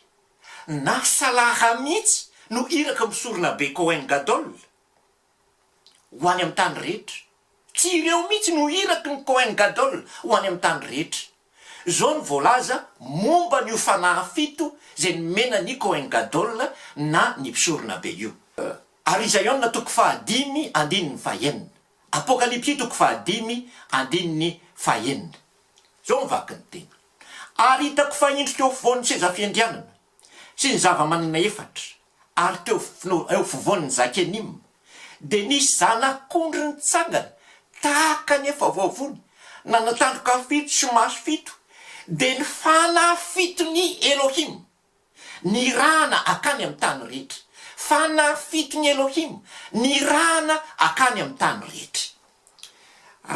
na Salaha mihitsy no iraka misorona be Kohen Gadol ho any amin'ny tany rehetra. Tsy ireo mihitsy no iraky ny Kohen Gadol ho any amin'ny tany rehetra. Izao no voalaza momba an'io fanahy fito izay nomena ny Kohen Gadol na ny mpisoronabe io. Ary i Zaiona toko fahadimy andininy fahenina. Apokalypsy toko fahadimy andininy fahenina. Izao ny vakin'ny teny, Ary hitako fahendrika eo afovoan'ny seza fiandrianana, sy ny zava-manana efatra, ary teo afovoan'ny zakenima, dia nisy zanak'ondry nitsangana tahaka ny efa voavony, nanatandroka fito sy maso fito, dia ny fanahy fiton'i Elohima. Nirahana akany amin'ny tany rehetra. Fanafiton'i Elohim, nirahana akany amin'ny tany rehetra.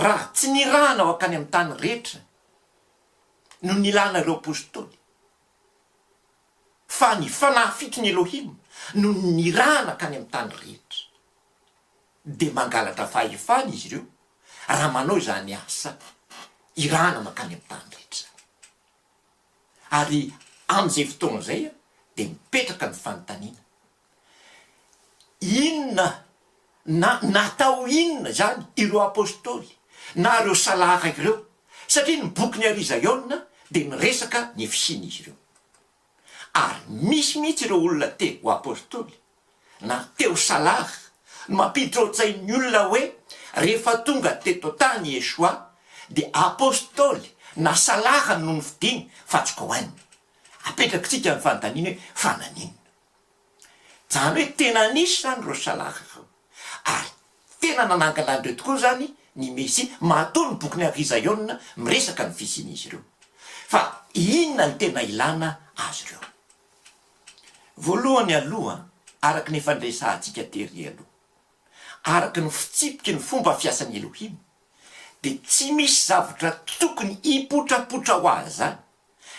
Raha tsy nirahana ho akany amin'ny tany rehetra no nilana ireo apostoly, fa ny fanafiton'i Elohim no nirahana akany amin'ny tany rehetra, dia mangalatra fahefana izy ireo raha manao izany asa irahana makany amin'ny tany rehetra izany. Ary amin'izay fotoana izay dia mipetraka ny fanontaniana, inona na natao inona izany ireo Apostoly na ireo Salahara ireo? Satria ny bokin'i Arizaiona dia miresaka ny fisian'izy ireo. Ary misy mihitsy ireo olona te ho Apostoly na teo Salah no mampiditra ao an-tsain'ny olona hoe rehefa tonga teto an-tany i Yeshua dia Apostoly na Salah no nofidiny fa tsy Cohen. Apetrakitsika ny fanontaniana hoe fa naninona? Izany hoe tena nisy izany ireo Salah ireo ary tena nanangana an'ireo tokoa izany ny Mesia matoa ny bokin'i Ary Zaiona miresaka ny fisian'izy ireo. Fa inona no tena ilana azy ireo? Voalohany aloha, araka ny efa niresahantsika tery aloha, araka ny fitsipiky ny fomba fiasan'i Elohim, dia tsy misy zavatra tokony hipotrapotra ho azy izany,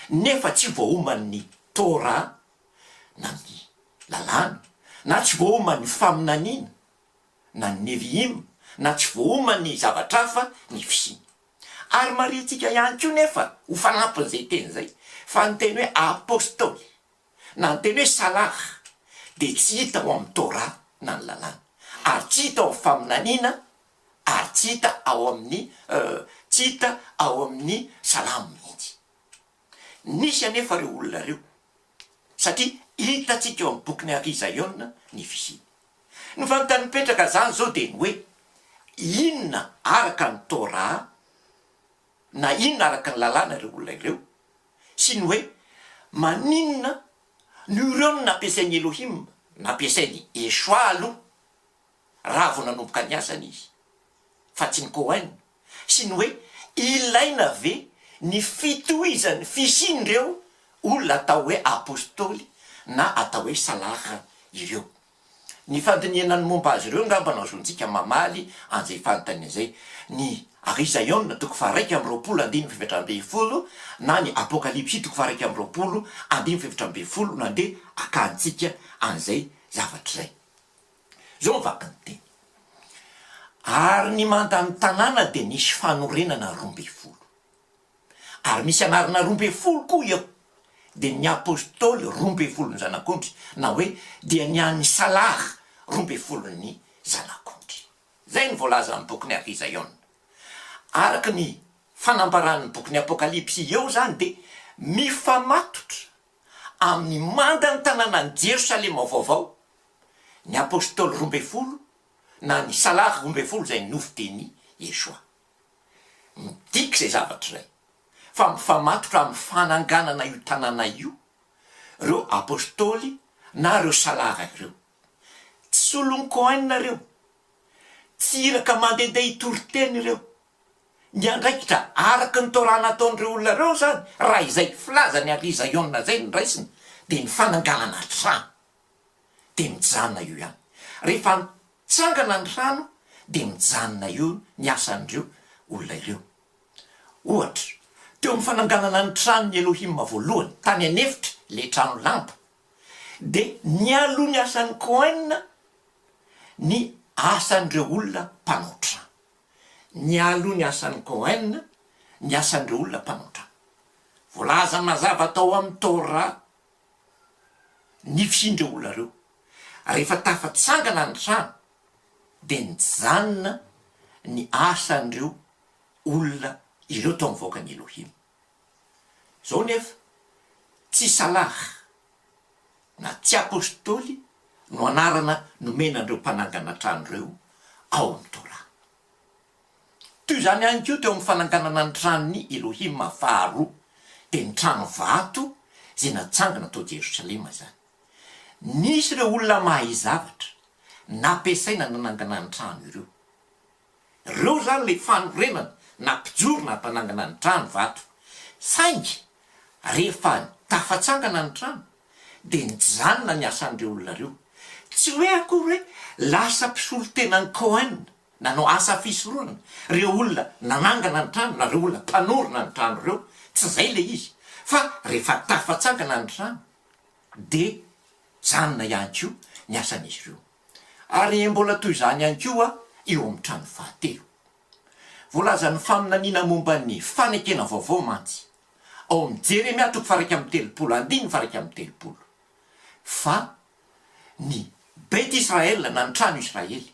nefa tsy voaoman'ny Torah, na ny Lalàna, na tsy voaoman'ny faminaniana, na ny Nevi'im, na tsy voaoman'ny zavatra hafa ny fisiany. Ary marihintsika ihany koa nefa ho fanampin'izay teny izay fa ny teny hoe Apostoly na ny teny hoe Salah dia tsy hita ao amin'ny Torah na ny Lalàna ary tsy hita ao amin'ny Faminaniana ary tsy hita ao amin'ny tsy hita ao amin'ny Salamo mihitsy. Nisy anefa ireo olona ireo satria hitantsika eo amin'ny bokin'i Ary Zaiona ny fisiany. Ny fanontany mipetraka izany izao dia ny hoe, inona araka ny Torah na inona araka ny lalàna ireo olona ireo? sy ny hoe, maninona no ireo no nampiasain'i Elohim, nampiasain'i Yeshua aloha, raha vao nanomboka ny asany izy, fa tsy ny Cohen? sy ny hoe ilaina ve ny fitohizan'ny fisian'ireo olona atao hoe Apostoly na atao hoe Salahra ireo. Ny fandinihana ny momba azy ireo angamba no azontsika mamaly an'izay fanontaniana izay, ny Arizaiona toko faha-iraika amby roapolo andininy fahefatra ambin'ny folo na ny Apokalypsy toko faha-iraika amby roapolo andininy fahefatra ambin'ny folo no andeha hakantsika an'izay zavatra izay. Zao ny vakin'ny teny. Ary ny mandan'ny tanàna dia nisy fanorenana roa ambin'ny folo. Ary misy anarana roa ambin'ny folo koa eo, dia ny apostoly roa ambin'ny folon'ny zanak'ondry, na hoe dia ny an'ny Salah roa ambin'ny folon'ny zanak'ondry. Izay no voalaza amin'ny bokin'i Afizaiona. Araka ny fanambaran'ny bokin'ny Apokalypsy eo izany dia mifamatotra amin'ny mandan'ny tanànan'i Jerosalema vaovao ny Apôstôly roa ambin'ny folo na ny Salary roa ambin'ny folo izay nofidian'i Yeshua. Midika izay zavatra izay fa mifamatotra amin'ny fananganana io tanàna io ireo Apôstôly na ireo Salary ireo. Tsy solon'i Cohen ireo. Tsy iraka mandehandeha hitory teny ireo. Miandraikitra araka ny Torah nataon'ireo olona ireo izany raha izay filazan'i Arlie Zion izay no raisina dia ny fananganana trano. dia mijanona eo ihany. Rehefa mitsangana ny rano dia mijanona eo ny asan'ireo olona ireo. Ohatra, teo amin'ny fananganana ny tranon'i Elohima voalohany, tany an'efitra, ilay trano lamba, dia nialoha ny asan'ny Kohen ny asan'ireo olona mpanao trano. Nialoha ny asan'ny Kohen ny asan'ireo olona mpanao trano. Voalaza mazava tao amin'ny Torah Nifindra io olona ireo. Rehefa tafatsangana ny trano dia nijanona ny asan'ireo olona ireo tao amin'ny vahoakan'i Elohim. Izao nefa, tsy Salah na tsy Apostoly no anarana nomena an'ireo mpanangana trano ireo ao amin'ny Torah. Toy izany ihany koa teo amin'ny fananganana ny tranon'i Elohima faharoa, dia ny trano vato izay natsangana tao Jerosalema izany. Nisy ireo olona mahay zavatra nampiasaina nanangana ny trano ireo. Ireo izany ilay fanorenana na mpijoro nampanangana ny trano vato. Saingy rehefa tafatsangana ny trano, dia nijanona ny asan'ireo olona ireo. Tsy hoe akory hoe lasa mpisolo tenan'i Cohen Nanao asa fisorohana ireo olona nanangana ny trano na ireo olona mpanorina ny trano ireo, tsy izay ilay izy fa rehefa tafatsangana ny trano dia mijanona ihany koa ny asan'izy ireo. Ary mbola toy izany ihany koa eo amin'ny trano fahatelo. Voalazan'ny faminaniana momba ny fanekena vaovao mantsy ao amin'ny Jeremia toko faha iraika amby telopolo andininy faha iraika amby telopolo fa ny Bet Israel na ny trano Israely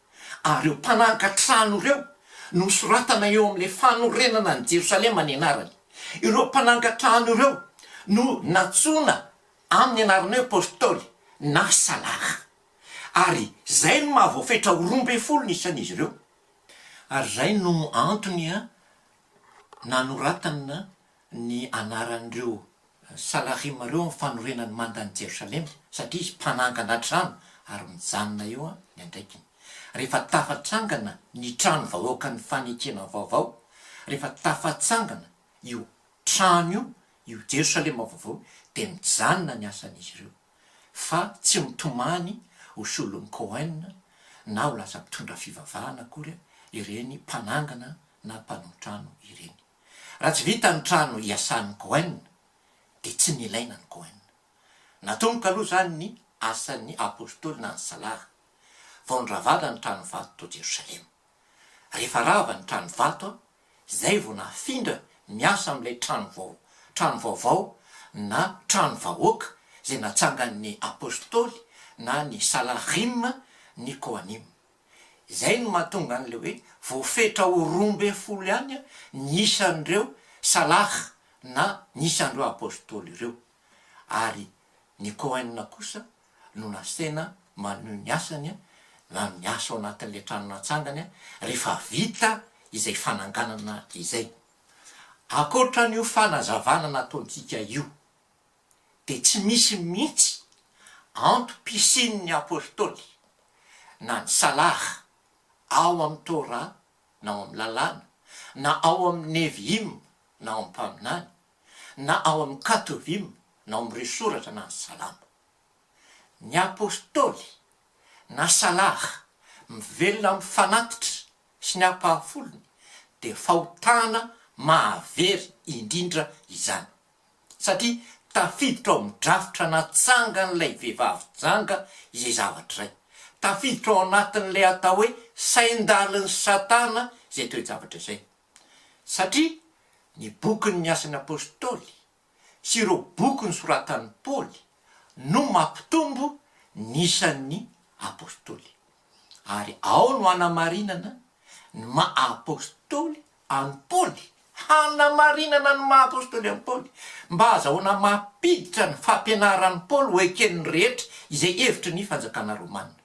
ary ireo mpananka trano ireo no hosoratana eo amin'ilay fanorenana an'i Jerosalema ny anarany. Ireo mpananka trano ireo no nantsoina amin'ny anarana hoe apostoly na salaha, ary izay no maha voafetra ho roa ambin'ny folo ny isan'izy ireo, ary izay no antony nanoratana ny anaran'ireo Salarim ireo amin'ny fanorenan'ny mandan'i Jerosalema, satria izy mpanangana trano ary mijanona eo ny andraikiny. Rehefa tafatsangana ny trano vahoakan'ny fanekena vaovao, rehefa tafatsangana io trano io, io Jerosalema vaovao io, dia mijanona ny asan'izy ireo, fa tsy mitomany ho solon'i Cohen na ho lasa mpitondra fivavahana akory ireny mpanangana na mpanao trano ireny. Raha tsy vita ny trano iasan'ny Cohen dia tsy nilaina ny Cohen. Natomboka aloha izany ny asan'ny Apostoly na ny Salah vao niravàna ny trano vato tao Jerosalema. Rehefa rava ny trano vato izay vao nafindra miasa amin'ilay trano vao, trano vaovao na trano vahoaka izay natsangan'ny Apostoly na ny Salahim ny Kohanim. Izay no mahatonga an'ilay hoe voafetra ho roa ambin'ny folo ihany ny isan'ireo Salah na ny isan'ireo Apôstôly ireo, ary ny Kohen kosa no nasaina manohy ny asany na miasa ao anatin'ilay trano natsangany rehefa vita izay fananganana izay. Ankoatra an'io fanazavana nataontsika io, dia tsy misy mihitsy antom-pisian'ny Apôstôly na ny Salar ao amin'ny Tôrà na ao amin'ny Lalàna, na ao amin'ny Nevi'im na ao amin'ny Mpaminany, na ao amin'ny Katovi'im na ao amin'ireo Soratra na ny Salamo. Ny Apôstôly na Salar mivelona amin'ny fanatitra sy ny ampahafolony dia fahotana mahavery indrindra izany. satria tafiditra ao amin'ny drafitra natsangan'ilay vehivavy janga izay zavatra izay. Tafiditra ao anatin'ilay atao hoe sain-dalin'i Satana izay toe-javatra izay. Satria ny bokin'ny Asan'ny Apostoly sy ireo boky nosoratan'i Paoly no mampitombo ny isan'ny apostoly. Ary ao no anamarinana ny maha apostoly an'i Paoly, hanamarinana ny maha apostoly an'i Paoly, mba hahazahoana mampiditra ny fampianaran'i Paoly ho eken'ny rehetra izay hevitry ny fanjakana romanina.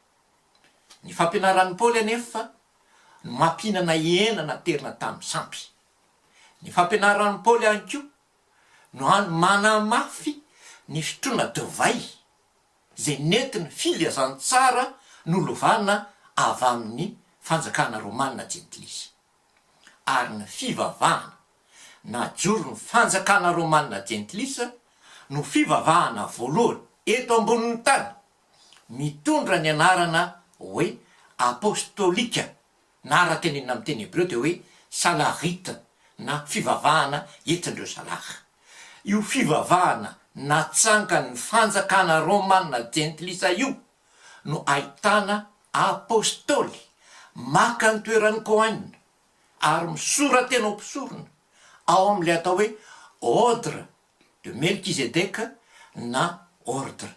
Ny fampianaran'i Paoly anefa no mampihinana hena naterina tamin'ny sampy. Ny fampianaran'i Paoly ihany koa no hany manamafy ny fitroana divay izay nentin'ny filazantsara nolovana avy amin'ny fanjakana romanina jentilisa. ary ny fivavahana najoron'ny fanjakana romana jentilisa no fivavahana voalohany eto ambonin'ny tany mitondra ny anarana hoe apostolika na raha tenenina amin'ny teny hebreo dia hoe salarita na fivavahana entin'ireo salara. Io fivavahana natsangan'ny fanjakana romana jentilisa io no ahitana Apostoly maka ny toeran'i Cohen ary misora-tena ho mpisorona ao amin'ilay atao hoe Ordre de Melchizedeke na Ordre.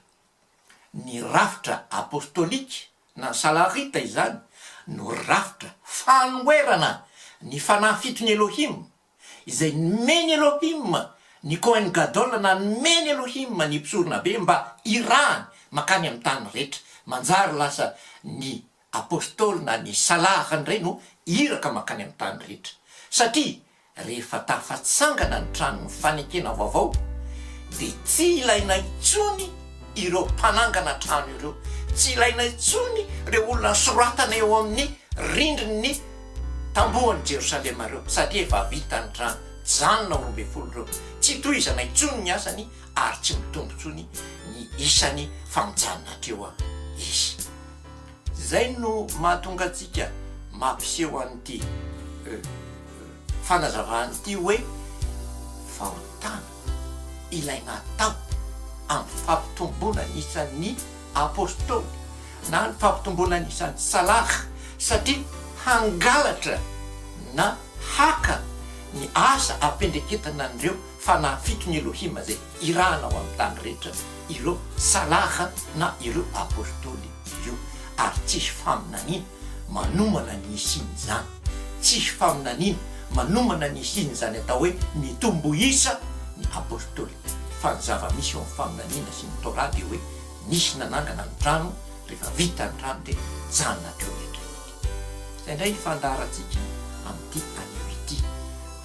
Ny rafitra apostolika na salarita izany no rafitra fanoherana ny Fanahy Fiton'i Elohim izay nomen'i Elohim ny Kohen Gadol na nomen'i Elohim ny Mpisoronabe mba hirahany mankany amin'ny tany rehetra. Manjary lasa ny Apostoly na ny Salahany indray no iraka mankany amin'ny tany rehetra. Satria rehefa tafatsangana ny tranon'ny fanekena vaovao dia tsy ilaina intsony ireo mpanangana trano ireo, tsy ilaina intsony ireo olona soratana eo amin'ny rindrin'ny Tamboho an'i Jerosalema ireo, satria efa vita ny rany, janona ho roa ambin'ny folo ireo, tsy hitohizana intsony ny asany ary tsy mitombo intsony ny isany fa mijanona hatreo izy. Izay no mahatonga antsika mampiseho an'ity fanazavana ity hoe fahotana. ilay natao amin'ny fampitomboana ny isan'ny Apostoly na ny fampitomboana ny isan'ny Salah satria hangalatra na haka ny asa am-piendreketana an'ireo fanahy fito ny Elohim izay irahana ao amin'ny tany rehetra ireo Salah na ireo Apostoly ireo ary tsisy faminaniana manomana ny hisian'izany. Tsy faminaniana manomana ny hisian'izany atao hoe mitombo isa ny Apôstôly, fa ny zava-misy eo amin'ny faminaniana sy ny Torah dia hoe nisy nanangana ny trano, rehefa vita ny trano dia nijanona hatreo ny aterineto. Izay indray ny fandaharantsika amin'ity anio ity,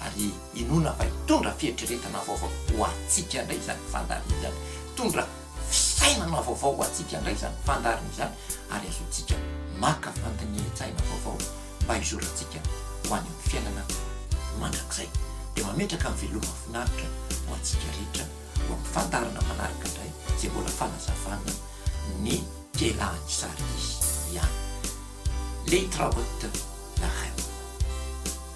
ary inoana fa hitondra fieritreretana vaovao ho antsika indray izany fandaharana izany, hitondra Fisainana vaovao ho antsika indray izany fandaharana izany ary azontsika maka fandinihan-tsaina vaovao mba hizorantsika ho any amin'ny fiainana mandrakizay. Dia mametraka ny veloma finaritra ho antsika rehetra ho amin'ny fandaharana manaraka indray izay mbola fanazavana ny Kelan'i Sardis ihany. Leitraut la reine.